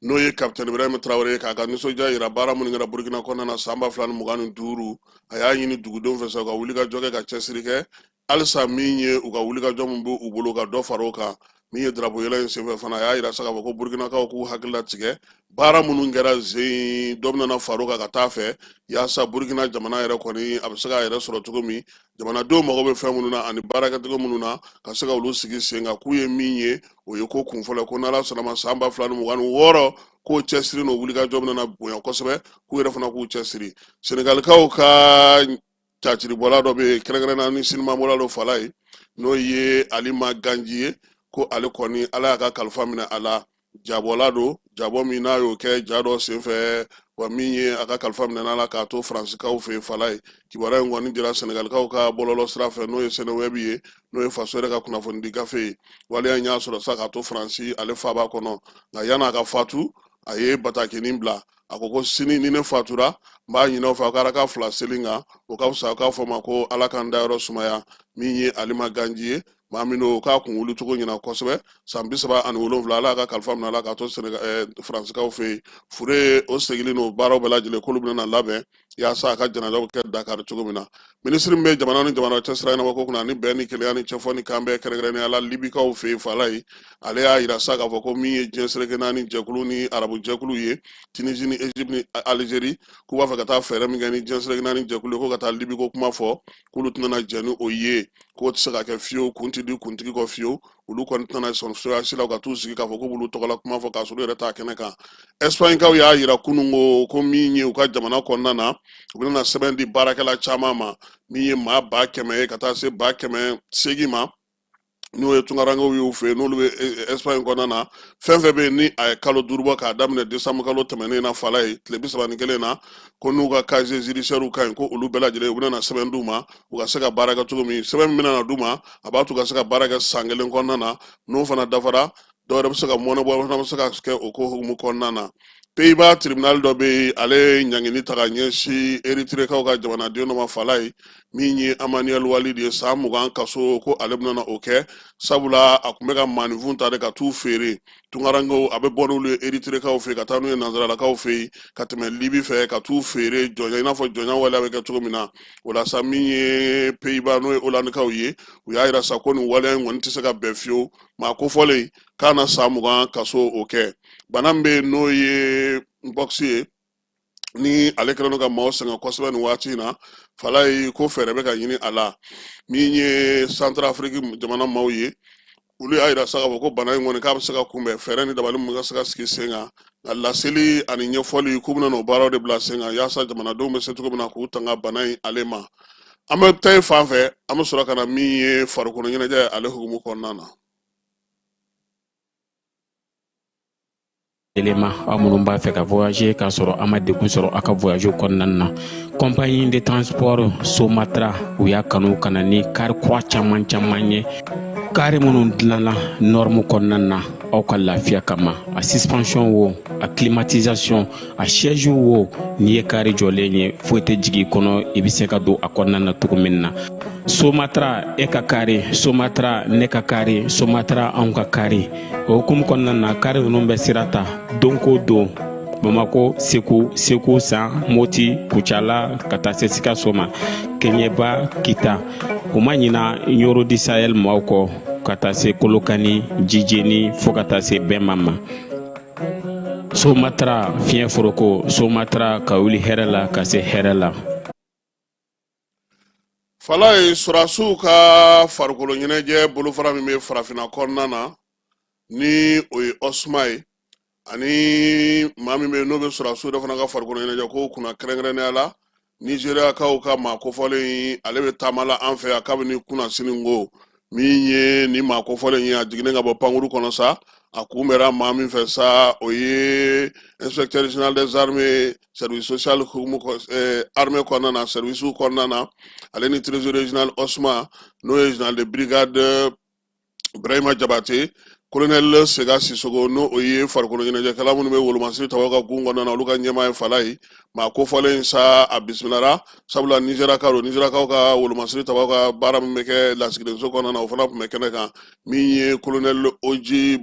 n'o ye kapitɛn ibrahima tarawele ye k'a ka nisɔndiya yira baara minnu kɛra burukina kɔnɔna na san ba fila ni mugan ni duuru a y'a ɲini dugudenw fɛ sa u ka wulikajɔ kɛ ka cɛsiri kɛ halisa min ye u ka wulikajɔ min b'u bolo ka dɔ fara o kan min ye drapo yɛlɛ in senfɛ fana a y'a yira sa k'a fɔ ko burukinakaw k'u hakili latigɛ baara minnu kɛra zen dɔ bɛna far'o kan ka taa fɛ yaasa burukina jamana yɛrɛ kɔni a bɛ se k'a yɛrɛ sɔrɔ cogo min jamanadenw mago bɛ fɛn minnu na ani baarakɛcogo minnu na ka se ka olu sigi sen kan k'u ye min ye o ye ko kunfɔlɔ ko n'ala sɔnn'a ma san ba fila ni mugan ni wɔɔrɔ k'o cɛsiri n'o wulikajɔ bɛna bonya kosɛbɛ k'u yɛrɛ fana k'u cɛsiri senegalikaw ka caciribɔla dɔ bɛ yen kɛrɛnkɛrɛnna ni sinimabɔla dɔ fala ye n'o ye alima ganji ye ko ale kɔni ala y'a ka kalifa minɛ a la jabɔla don jabɔ min n'a y'o kɛ ja dɔ senfɛ wa min ye a ka kalifa minɛn'a la k'a to faransikaw fɛ yen fala ye kibaruya in kɔni dira sɛnɛgalikaw ka bɔlɔlɔ sira fɛ n'o ye sɛnɛwɛbi ye n'o ye faso yɛrɛ ka kunnafonidi gafe ye waleya in y'a sɔrɔ sa k'a to faransi ale faaba kɔnɔ nka yan'a ka fatu a ye batakinin bila a ko ko sini ni ne fatura n b'a ɲin'aw fɛ aw ka raka fila seli n kan o ka fisa aw k'a fɔ ma ko ala ka n dayɔrɔ sumaya min ye alima ganji ye maa min don k'a kun wuli cogo ɲɛna kosɛbɛ san bi saba ani wolonwula ala y'a ka kalifa minɛ a la k'a to faransikaw fɛ yen fure o segili n'o baaraw bɛɛ lajɛlen k'olu bɛna labɛn yaasa a ka janajaw bɛ kɛ dakari cogo min na minisiri min bɛ jamana ni jamana cɛ sira ɲɛnabɔ ko kunna ani bɛn ni kelenya ni cɛfɔ ni kanbɛn kɛrɛnkɛrɛnnenya la libikaw fɛ yen fala ye ale y'a yira sa k'a fɔ ko min ye diɲɛ seleke naani jɛkulu ni arabu jɛkulu ye tunisie ni egypte ni algérie k'u b'a fɛ ka taa fɛɛrɛ min kɛ ni diɲɛ seleke naani jɛkulu ye ko ka taa libi ko kuma fɔ k'olu tɛna jɛn ni o ye k'o tɛ se ka kɛ fiyewu kun tɛ di kuntigi kɔ fiyewu olu kɔni tɛna sɔn cogoya si la u ka t'u sigi k'a fɔ k'u b'olu tɔgɔla kuma fɔ k'a sɔrɔ u yɛrɛ t'a kɛnɛ kan ɛsipaɲikaw y'a yira kunun ko ko min ye u ka jamana kɔnɔna na u bɛna sɛbɛn di baarakɛla caman ma min ye maa ba kɛmɛ ye ka taa se ba kɛmɛ seegin ma n'o ye tunkarankew y'u fɛ n'olu bɛ ɛsipaɲi kɔnɔna na fɛn fɛn bɛ yen ni a ye kalo duuru bɔ k'a daminɛ desanburu kalo tɛmɛnen na fala ye tile bi saba ni kelen na ko n'u ka casier judiciairew ka ɲi ko olu bɛɛ lajɛlen u bɛna sɛbɛn d'u ma u ka se ka baara kɛ cogo min sɛbɛn min bɛna d'u ma a b'a to u ka se ka baara kɛ san kelen kɔnɔna na n'o fana dafara dɔw yɛrɛ bɛ se ka mɔɔnɔbɔ fana bɛ se ka kɛ o ko hukumu kɔnɔna na peyiba tribunal dɔ bɛ yen ale ye ɲangini ta ka ɲɛsin eritirekaw ka jamanaden dɔ ma fala ye min ye amanuel walid ye san mugan kaso ko ale bɛna o kɛ sabula a tun bɛ ka maaninfin ta de ka t'u feere tunkarankew a bɛ bɔ n'olu ye eritirekaw fɛ ka taa n'u ye nanzaralakaw fɛ yen ka tɛmɛ libi fɛ ka t'u feere jɔnya i n'a fɔ jɔnya waleya bɛ kɛ cogo min na o la sa min ye peyiba n'o ye olandikaw ye u y'a yira sa ko nin waleya in kɔni tɛ se ka bɛn fiyewu maa kofɔlen k'a na san mugan kaso o kɛ bana min bɛ yen n'o ye mpox ye ni ale kɛlen don ka maaw sɛgɛn kosɛbɛ nin waati in na fala ye ko fɛɛrɛ bɛ ka ɲini a la min ye santarafiriki jamana maaw ye olu y'a yira sa k'a fɔ ko bana in kɔni k'a bɛ se ka kunbɛn fɛɛrɛ ni dabali mun ka se ka sigi sen kan nka laseli ani ɲɛfɔli k'u bɛna n'o baaraw de bila sen kan yaasa jamanadenw bɛ se cogo min na k'u tanga bana in ale ma an bɛ taa yen fan fɛ an bɛ sɔrɔ ka na min ye farikolo ɲɛnajɛ ale hukumu kɔnɔna na Yɛlɛma aw minnu b'a fɛ ka voyager k'a sɔrɔ a ma degun sɔrɔ a ka voyage kɔnɔna na compagnie de transport Somatra u y'a kanu ka na ni kari kura caman caman ye kari minnu dilanna norme kɔnɔna na aw ka lafiya kama a suspension wo a climatisation a siège wo n'i ye kari jɔlen ye foyi tɛ jigin i kɔnɔ i bɛ se ka don a kɔnɔna na cogo min na somatra e ka kari somatra ne ka kari somatra anw ka kari o hukumu kɔnɔna na kari ninnu bɛ sira ta don ko don bamako segu segu san moti kucala ka taa se sikaso ma kɛɲɛba kita u ma ɲina nioro du sahel maaw kɔ ka taa se kolokani jijeni fɔɔ ka taa se bema ma somatra fiɲɛ foroko somatra ka wuli hɛrɛ la ka se hɛrɛ la fala ye sɔrɔdasiw ka farikolo ɲɛnajɛ bolofara min bɛ farafinna kɔnɔna na ni o ye osma ye ani maa min bɛ yen n'o bɛ sɔrɔdasiw yɛrɛ fana ka farikolo ɲɛnajɛ ko kunna kɛrɛnkɛrɛnnenya la nizeriyakaw ka maa kofɔlen ale bɛ taama la an fɛ yan kabini kunasinin ko min ye nin maa kofɔlen ye a jiginnen ka bɔ pankuru kɔnɔ sa a kunbɛra maa min fɛ sa o ye inspecteur général des armées service social hukumu eh, armée kɔnɔna na service kɔnɔna na ale ni trésorier général osma n'o ye général de brigade Ibrahima Jabate kolonɛli sega sisogo n'o o ye farikolo ɲɛnajɛkɛla minnu bɛ wolomasiri tabaw ka gun kɔnɔna na olu ka ɲɛmaa ye falayi maa kofɔlen sa a bisimilara sabula nizeriyakaw don nizeriyakaw ka wolomasiri tabaw ka baara min bɛ kɛ lasigidenso kɔnɔna na o fana tun bɛ kɛnɛ kan min ye kolonɛli oji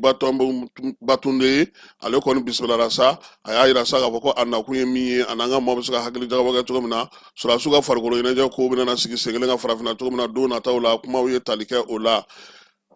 batunde ye ale kɔni bisimilara sa a y'a yira sa k'a fɔ ko a nakun ye min ye a n'an ka maaw bɛ se ka hakili jagabɔ kɛ cogo min na sɔrɔdasiw ka farikolo ɲɛnajɛ ko bɛna na sigi sen kelen kan farafinna cogo min na don nataw la kumaw ye tali kɛ o la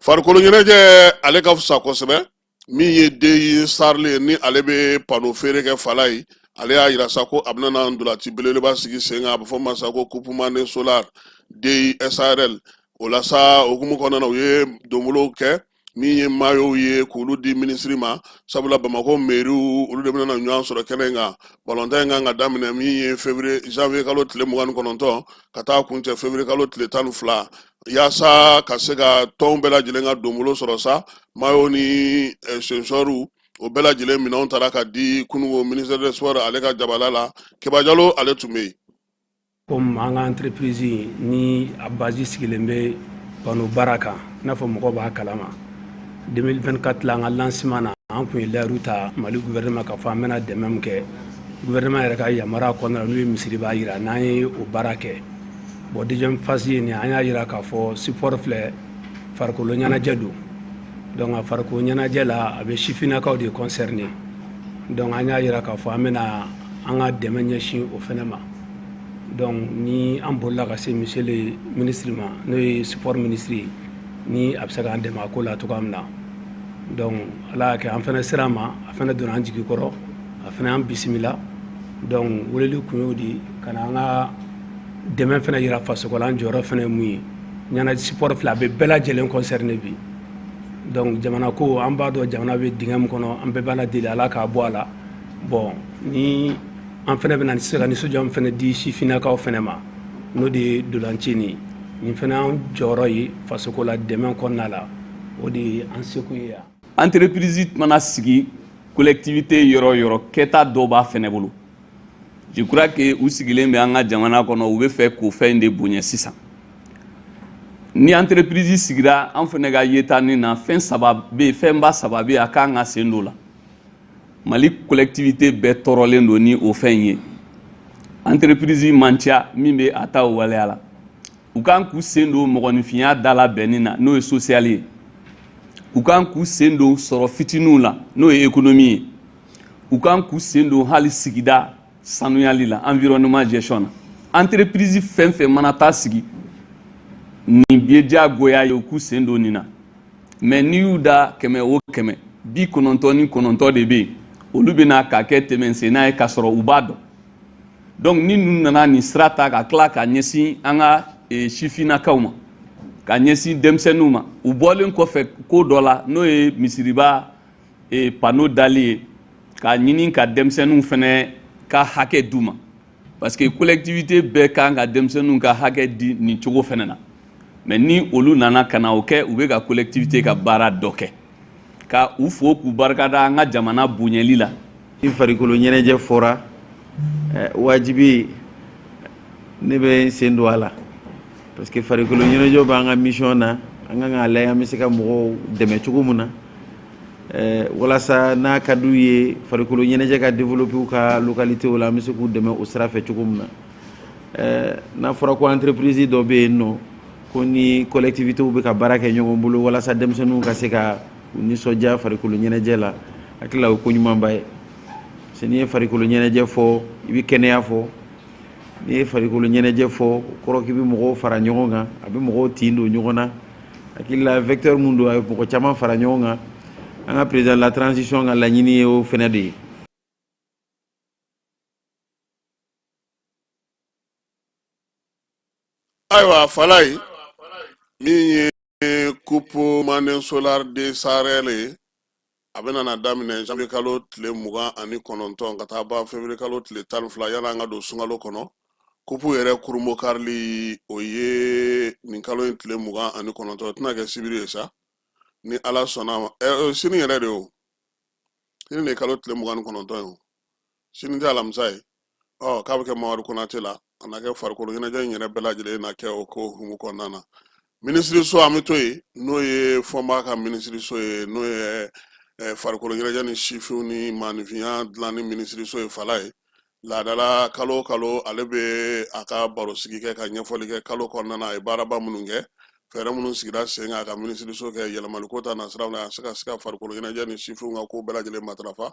farikolo ɲɛnajɛ ale ka fisa kosɛbɛ min ye deye sarili ni ale bɛ pano feere kɛ falayi ale y'a yira sa ko a bɛna na ntolaci belebeleba sigi sen kan a bɛ fɔ ma sa ko kupu mane solar deye sarl o la sa hukumu kɔnɔna na u ye donbolow kɛ min ye mayow ye k'olu di minisiri ma sabula bamakɔ meriw olu de bɛna na ɲɔgɔn sɔrɔ kɛnɛ in kan balontan in kan ka daminɛ min ye fevrier janvier kalo tile mugan ni kɔnɔntɔn ka taa kuncɛ fevrier kalo tile tan ni fila yaasa ka se ka tɔnw bɛɛ lajɛlen ka donbolo sɔrɔ sa mayo ni eh, sensɔriw o bɛɛ lajɛlen minɛnw taara ka di kununko ministère des sports ale ka jabala la keba jalo ale tun bɛ yen Comme an ka entreprise in ni a base sigilen bɛ panneau baara kan i n'a fɔ mɔgɔw b'a kalama 2024 la an ka lancement na an kun ye layiru ta Mali gouvernement k'a fɔ an bɛna dɛmɛ min kɛ gouvernement yɛrɛ ka yamaruya kɔnɔna na n'u ye misiriba yira n'an ye o baara kɛ bon deuxième phase ye nin an y'a jira k'a fɔ sport filɛ farikolo ɲɛnajɛ don donc a farikolo ɲɛnajɛ la a bɛ sifinnakaw de concerner donc an y'a jira k'a fɔ an bɛna an ka dɛmɛ ɲɛsin o fana ma. dɔnku ni an bolila ka se monsieur le ministre ma n'o ye sipɔri minisiri ye ni a bɛ se k'an dɛmɛ a ko la cogoya min na dɔnku ala y'a kɛ an fana sera a ma a fana donna an jigi kɔrɔ a fana y'an bisimila dɔnku weleli kun y'o di ka na an ka dɛmɛ fana jira fasoko la an jɔyɔrɔ fana ye mun ye yan na sipɔri filɛ a bɛ bɛɛ lajɛlen kɔnsɛrine bi dɔnku jamana ko an b'a dɔn jamana bɛ dingɛ min kɔnɔ an bɛɛ b'ala deli ala k'a bɔ a la bɔn ni an fana bɛna se ka nisɔndiya min fana di sifinnakaw fana ma n'o de ye ntolaci nin ye nin fana y'an jɔyɔrɔ ye fasoko la dɛmɛ kɔnɔna la o de ye an sekun ye yan entreprise mana sigi collectivité yɔrɔ o yɔrɔ kɛta dɔ b'a fana bolo je crois que u sigilen bɛ an ka jamana kɔnɔ u b'a fɛ k'o fɛn in de bonya sisan ni entreprise sigira an fana ka yeta nin na fɛn saba bɛ yen fɛnba saba bɛ yen a kan k'a sen don o la mali collectivité bɛɛ tɔɔrɔlen don ni o fɛn in ye entreprise man ca min bɛ a ta o waleya la u kan k'u sen don mɔgɔninfinya dala bɛnni na n'o ye sosiyali ye u kan k'u sen don sɔrɔ fitiniw la n'o ye ekonomi ye u kan k'u sen don hali sigida sanuyali la environnement gestion na entreprise fɛn fɛn mana taa sigi nin ye diyagoya ye u k'u sen don nin na mais n'i y'u da kɛmɛ o kɛmɛ bi kɔnɔntɔn ni kɔnɔntɔn de bɛ yen olu bɛ na k'a kɛ tɛmɛsenna ye k'a sɔrɔ u b'a dɔn donc ni ninnu nana nin sira ta ka tila ka ɲɛsin an ka e, sifinnakaw ma ka ɲɛsin denmisɛnninw ma u bɔlen kɔfɛ ko dɔ la n'o ye misiriba e pano dali ye k'a ɲini ka denmisɛnninw fɛnɛ ka hakɛ d'u ma parce que collectivité bɛɛ kan ka denmisɛnninw ka hakɛ di nin cogo fɛnɛ na mais ni olu nana ka na o kɛ u bɛ ka collectivité ka baara dɔ kɛ ka u fo k'u barikada an ka jamana bonyɛli la i farikolo ɲɛnajɛ fɔra eh, wajibi ne bɛ n sen don a la parce que farikolo ɲɛnajɛ b'an ka mission na an kan k'a lajɛ an bɛ se ka mɔgɔw dɛmɛ cogo min na eh, walasa n'a ka d'u ye farikolo ɲɛnajɛ ka développer u ka localité la an bɛ se k'u dɛmɛ o sira fɛ cogo min na eh, n'a fɔra ko entreprise dɔ bɛ yen nɔ ko ni collectivités bɛ ka baara kɛ ɲɔgɔn bolo walasa denmisɛnninw ka se ka u nisɔndiya farikolo ɲɛnajɛ la hakili la o ko ɲumanba ye parce que n'i ye farikolo ɲɛnajɛ fɔ i bɛ kɛnɛya fɔ n'i ye farikolo ɲɛnajɛ fɔ o kɔrɔ k'i bɛ mɔgɔw fara ɲɔgɔn kan a bɛ mɔgɔw tin don ɲɔgɔn na hakili la vecteur min don a bɛ mɔgɔ caman fara ɲɔgɔn kan an ka président la transition ka laɲini ye o fɛnɛ de ye ayiwa falaye min ye kupu manden solar de SARL ye a bɛna na daminɛ janvier kalo tile mugan ani kɔnɔntɔn ka taa ban février kalo tile tan ni fila yan'an ka don sunkalo kɔnɔ kupu yɛrɛ kurunbonkarili o ye nin kalo in tile mugan ani kɔnɔntɔn tɛna kɛ sibiri ye sa ni ala sɔnna ma ɛ sini yɛrɛ de o sini de ye kalo tile mugan ni kɔnɔntɔn ye o sini tɛ alamisa ye ɔ k'a bɛ kɛ mamadu konate la a na kɛ farikolo ɲɛnajɛ in yɛrɛ bɛɛ lajɛlen na kɛ o hukumu kɔnɔna na minisiriso an bɛ to yen n'o ye fomba ka minisiriso ye n'o ye eh, farikolo ɲɛnajɛ ni sifinw ni maaninfinya dilanni minisiriso ye falaye laadala kalo o kalo ale bɛ a ka barosigi kɛ ka ɲɛfɔli kɛ kalo kɔnɔna na a ye baaraba minnu kɛ fɛɛrɛ minnu sigira sen kan a ka minisiriso kɛ yɛlɛmaliko ta nasiraw la a se ka se ka farikolo ɲɛnajɛ ni sifinw ka ko bɛɛ lajɛlen matarafa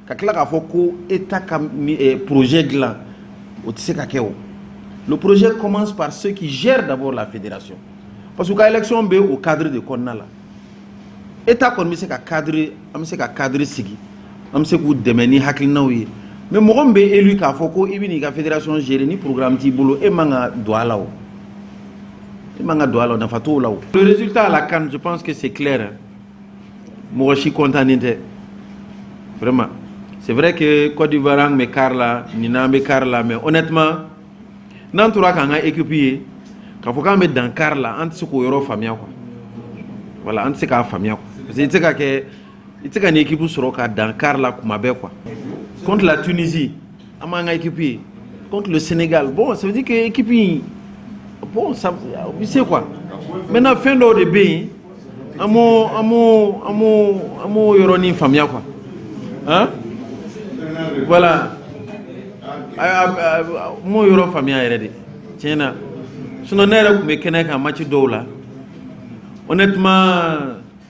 ka tila k'a fɔ ko état ka eh, projet dilan o tɛ se ka kɛ o le projet commence par ceux qui gèrent d'abord la fédération parce que u ka élection bɛ o cadre de kɔnɔna la état kɔni bɛ se ka cadre an bɛ se ka cadre sigi an bɛ se k'u dɛmɛ ni hakilinaw ye mais mɔgɔ min bɛ élu k'a fɔ ko i bɛ n'i ka fédération gérer ni programme t'i bolo e man ka don a la o e man ka don a la o nafa t'o la o le résultat à la CAN je pense que c'est clair hein. mɔgɔ si kɔntannen tɛ vraiment c'est vrai que Côte d'Ivoire an bɛ quart la nin n'an bɛ quart la mais honnêtement n'an tora k'an ka équipe ye k'a fɔ k'an bɛ dan quart la an tɛ se k'o yɔrɔ faamuya quoi voilà an tɛ se k'a faamuya quoi parce que i tɛ se ka kɛ i tɛ se ka nin équipe sɔrɔ ka dan quart la kuma bɛɛ quoi contre la Tunisie An b'an ka équipe ye contre le Sénégal bon ça veut dire que équipe in bon ça o bɛ se quoi maintenant fɛn dɔw de bɛ yen an m'o an m'o an m'o an m'o yɔrɔnin faamuya quoi hein voilà a a a n m'o yɔrɔ faamuya yɛrɛ de tiɲɛ na sinon ne yɛrɛ kun bɛ kɛnɛ kan match dɔw la honnêtement.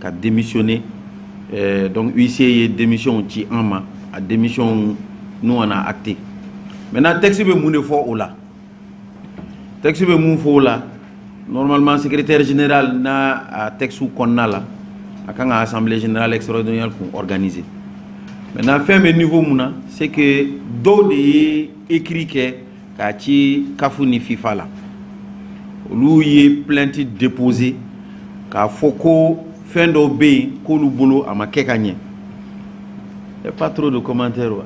ka démissionner eh, donc huissier ye démission ci an ma a démission nous on a acté maintenant texte bɛ mun de fɔ o la texte bɛ mun fɔ o la normalement secrétaire général n'a a texte kɔnɔna la a kan ka assemblée générale extraordinaire kun organiser maintenant fɛn bɛ niveau mun na c'est que dɔw de ye écrit kɛ k'a ci caf ni fifa la olu ye plainte déposer k'a fɔ ko fɛn dɔw bɛ yen k'olu bolo a ma kɛ ka ɲɛ pas trop de commentaires wa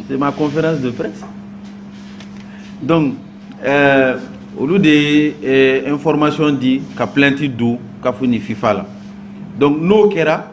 c'est ma conférence de presse donc euh, olu de ye euh, information di ka plainte don caf ni fifa la donc n'o kɛra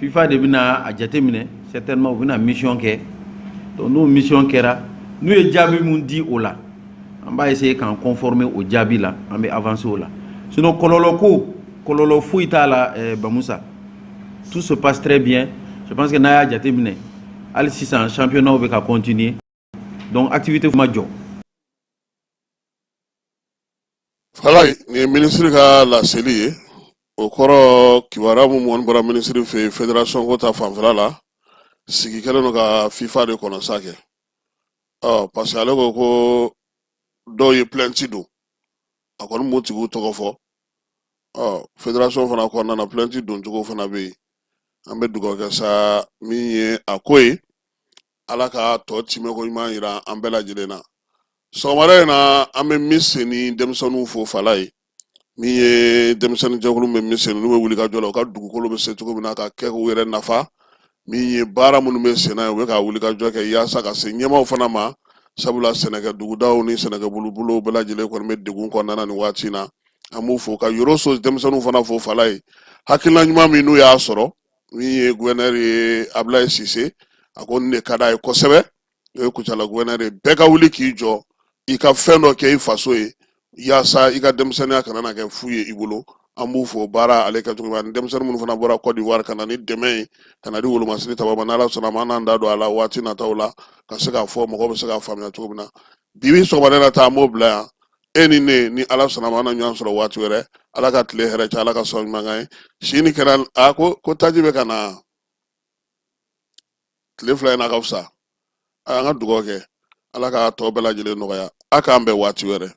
fifa de bɛna a jate minɛ certainement u bɛna mission kɛ donc n'o mission kɛra n'u ye jaabi min di o la an b'a essayer k'an conformer o jaabi la an bɛ avancer o la sinon kɔlɔlɔ ko kɔlɔlɔ foyi t'a la eh, bamusa tout se passe très bien je pense que n'a y'a jate minɛ hali sisan championnat bɛ ka continuer donc activité ma jɔ voilà nin ye minisiri ka laseli ye o kɔrɔ kibaruya min mɔni bɔra minisiri fɛ yen federasɔn ko ta fanfɛla la sigi kɛlen don ka fifa de kɔnɔ sa kɛ ɔ parce que ale ko ko dɔw ye plainte don a kɔni m'o tigiw tɔgɔ fɔ ɔ federasɔn fana kɔnɔna na plainte doncogo fana bɛ yen an bɛ dugawu kɛ sa min ye a ko ye ala ka tɔ timɛko ɲuman yira an bɛɛ lajɛlen na sɔgɔmada in na an bɛ miseni denmisɛnninw fo fala ye min ye denmisɛnnin jɛkulu bɛ miseni n'u bɛ wuli ka jɔ la u ka dugukolo bɛ se cogo min na ka kɛ k'u yɛrɛ nafa min ye baara minnu bɛ senna ye u bɛ ka wuli ka jɔ kɛ yaasa ka se ɲɛmaaw fana ma sabula sɛnɛkɛ dugudaw ni sɛnɛkɛ bolobolow bɛɛ lajɛlen kɔni bɛ degun kɔnɔna na nin waati in na an b'u fo ka yɔrɔso denmisɛnninw fana fo fala ye hakilina ɲuman min n'u y'a sɔrɔ min ye guvɛrnɛr ye abulayi sise a ko ne ka d'a ye kosɛbɛ o ye kucala guvɛrnɛr ye bɛɛ ka wuli k'i jɔ i ka fɛn dɔ kɛ i faso ye yaasa i ka denmisɛnninya kana na kɛ fu ye i bolo an b'u fo baara ale kɛcogo ni denmisɛnnin minnu fana bɔra kɔdiwari ka na ni dɛmɛ ye ka na di wolomasini ta ma ala sɔnna ma an n'an da don a la waati nata la ka se k'a fɔ mɔgɔ bɛ se k'a faamuya cogo min na bibi sɔgɔmada nin ta an b'o bila yan e ni ne ni ala sɔnna ma an na ɲɔgɔn sɔrɔ waati wɛrɛ ala ka tile hɛrɛ caya ala ka sɔn ɲuman kan ye si ni kɛnɛya ko ko taji bɛ ka na tile fila in na ka fisa a y'an ka dugawu kɛ ala k'a tɔ bɛɛ lajɛlen nɔgɔya a k'an bɛn waati wɛrɛ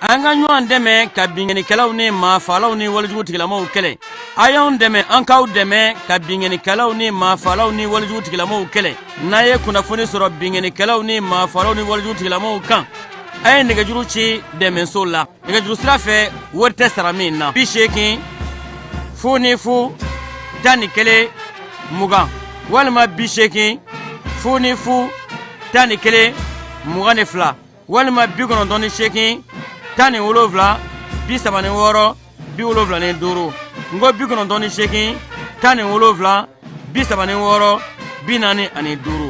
an ka ɲɔgɔn dɛmɛ ka binkanikɛlaw ni maafalaw ni walejugu tigilamaw kɛlɛ a y'anw dɛmɛ an k'aw dɛmɛ ka binkanikɛlaw ni maafalaw ni walejugu tigilamaw kɛlɛ n'a ye kunnafoni sɔrɔ binkanikɛlaw ni maafalaw ni walejugu tigilamaw kan a ye nɛgɛjuru ci dɛmɛso la nɛgɛjuru sira fɛ wari tɛ sara min na bi seegin fu ni fu tan ni kelen mugan walima bi seegin fu ni fu tan ni kelen mugan ni fila walima bi kɔnɔntɔn ni seegin tan ni wolonwula bi saba ni wɔɔrɔ bi wolonwula ni duuru n ko bi kɔnɔntɔn ni seegin tan ni wolonwula bi saba ni wɔɔrɔ bi naani ani duuru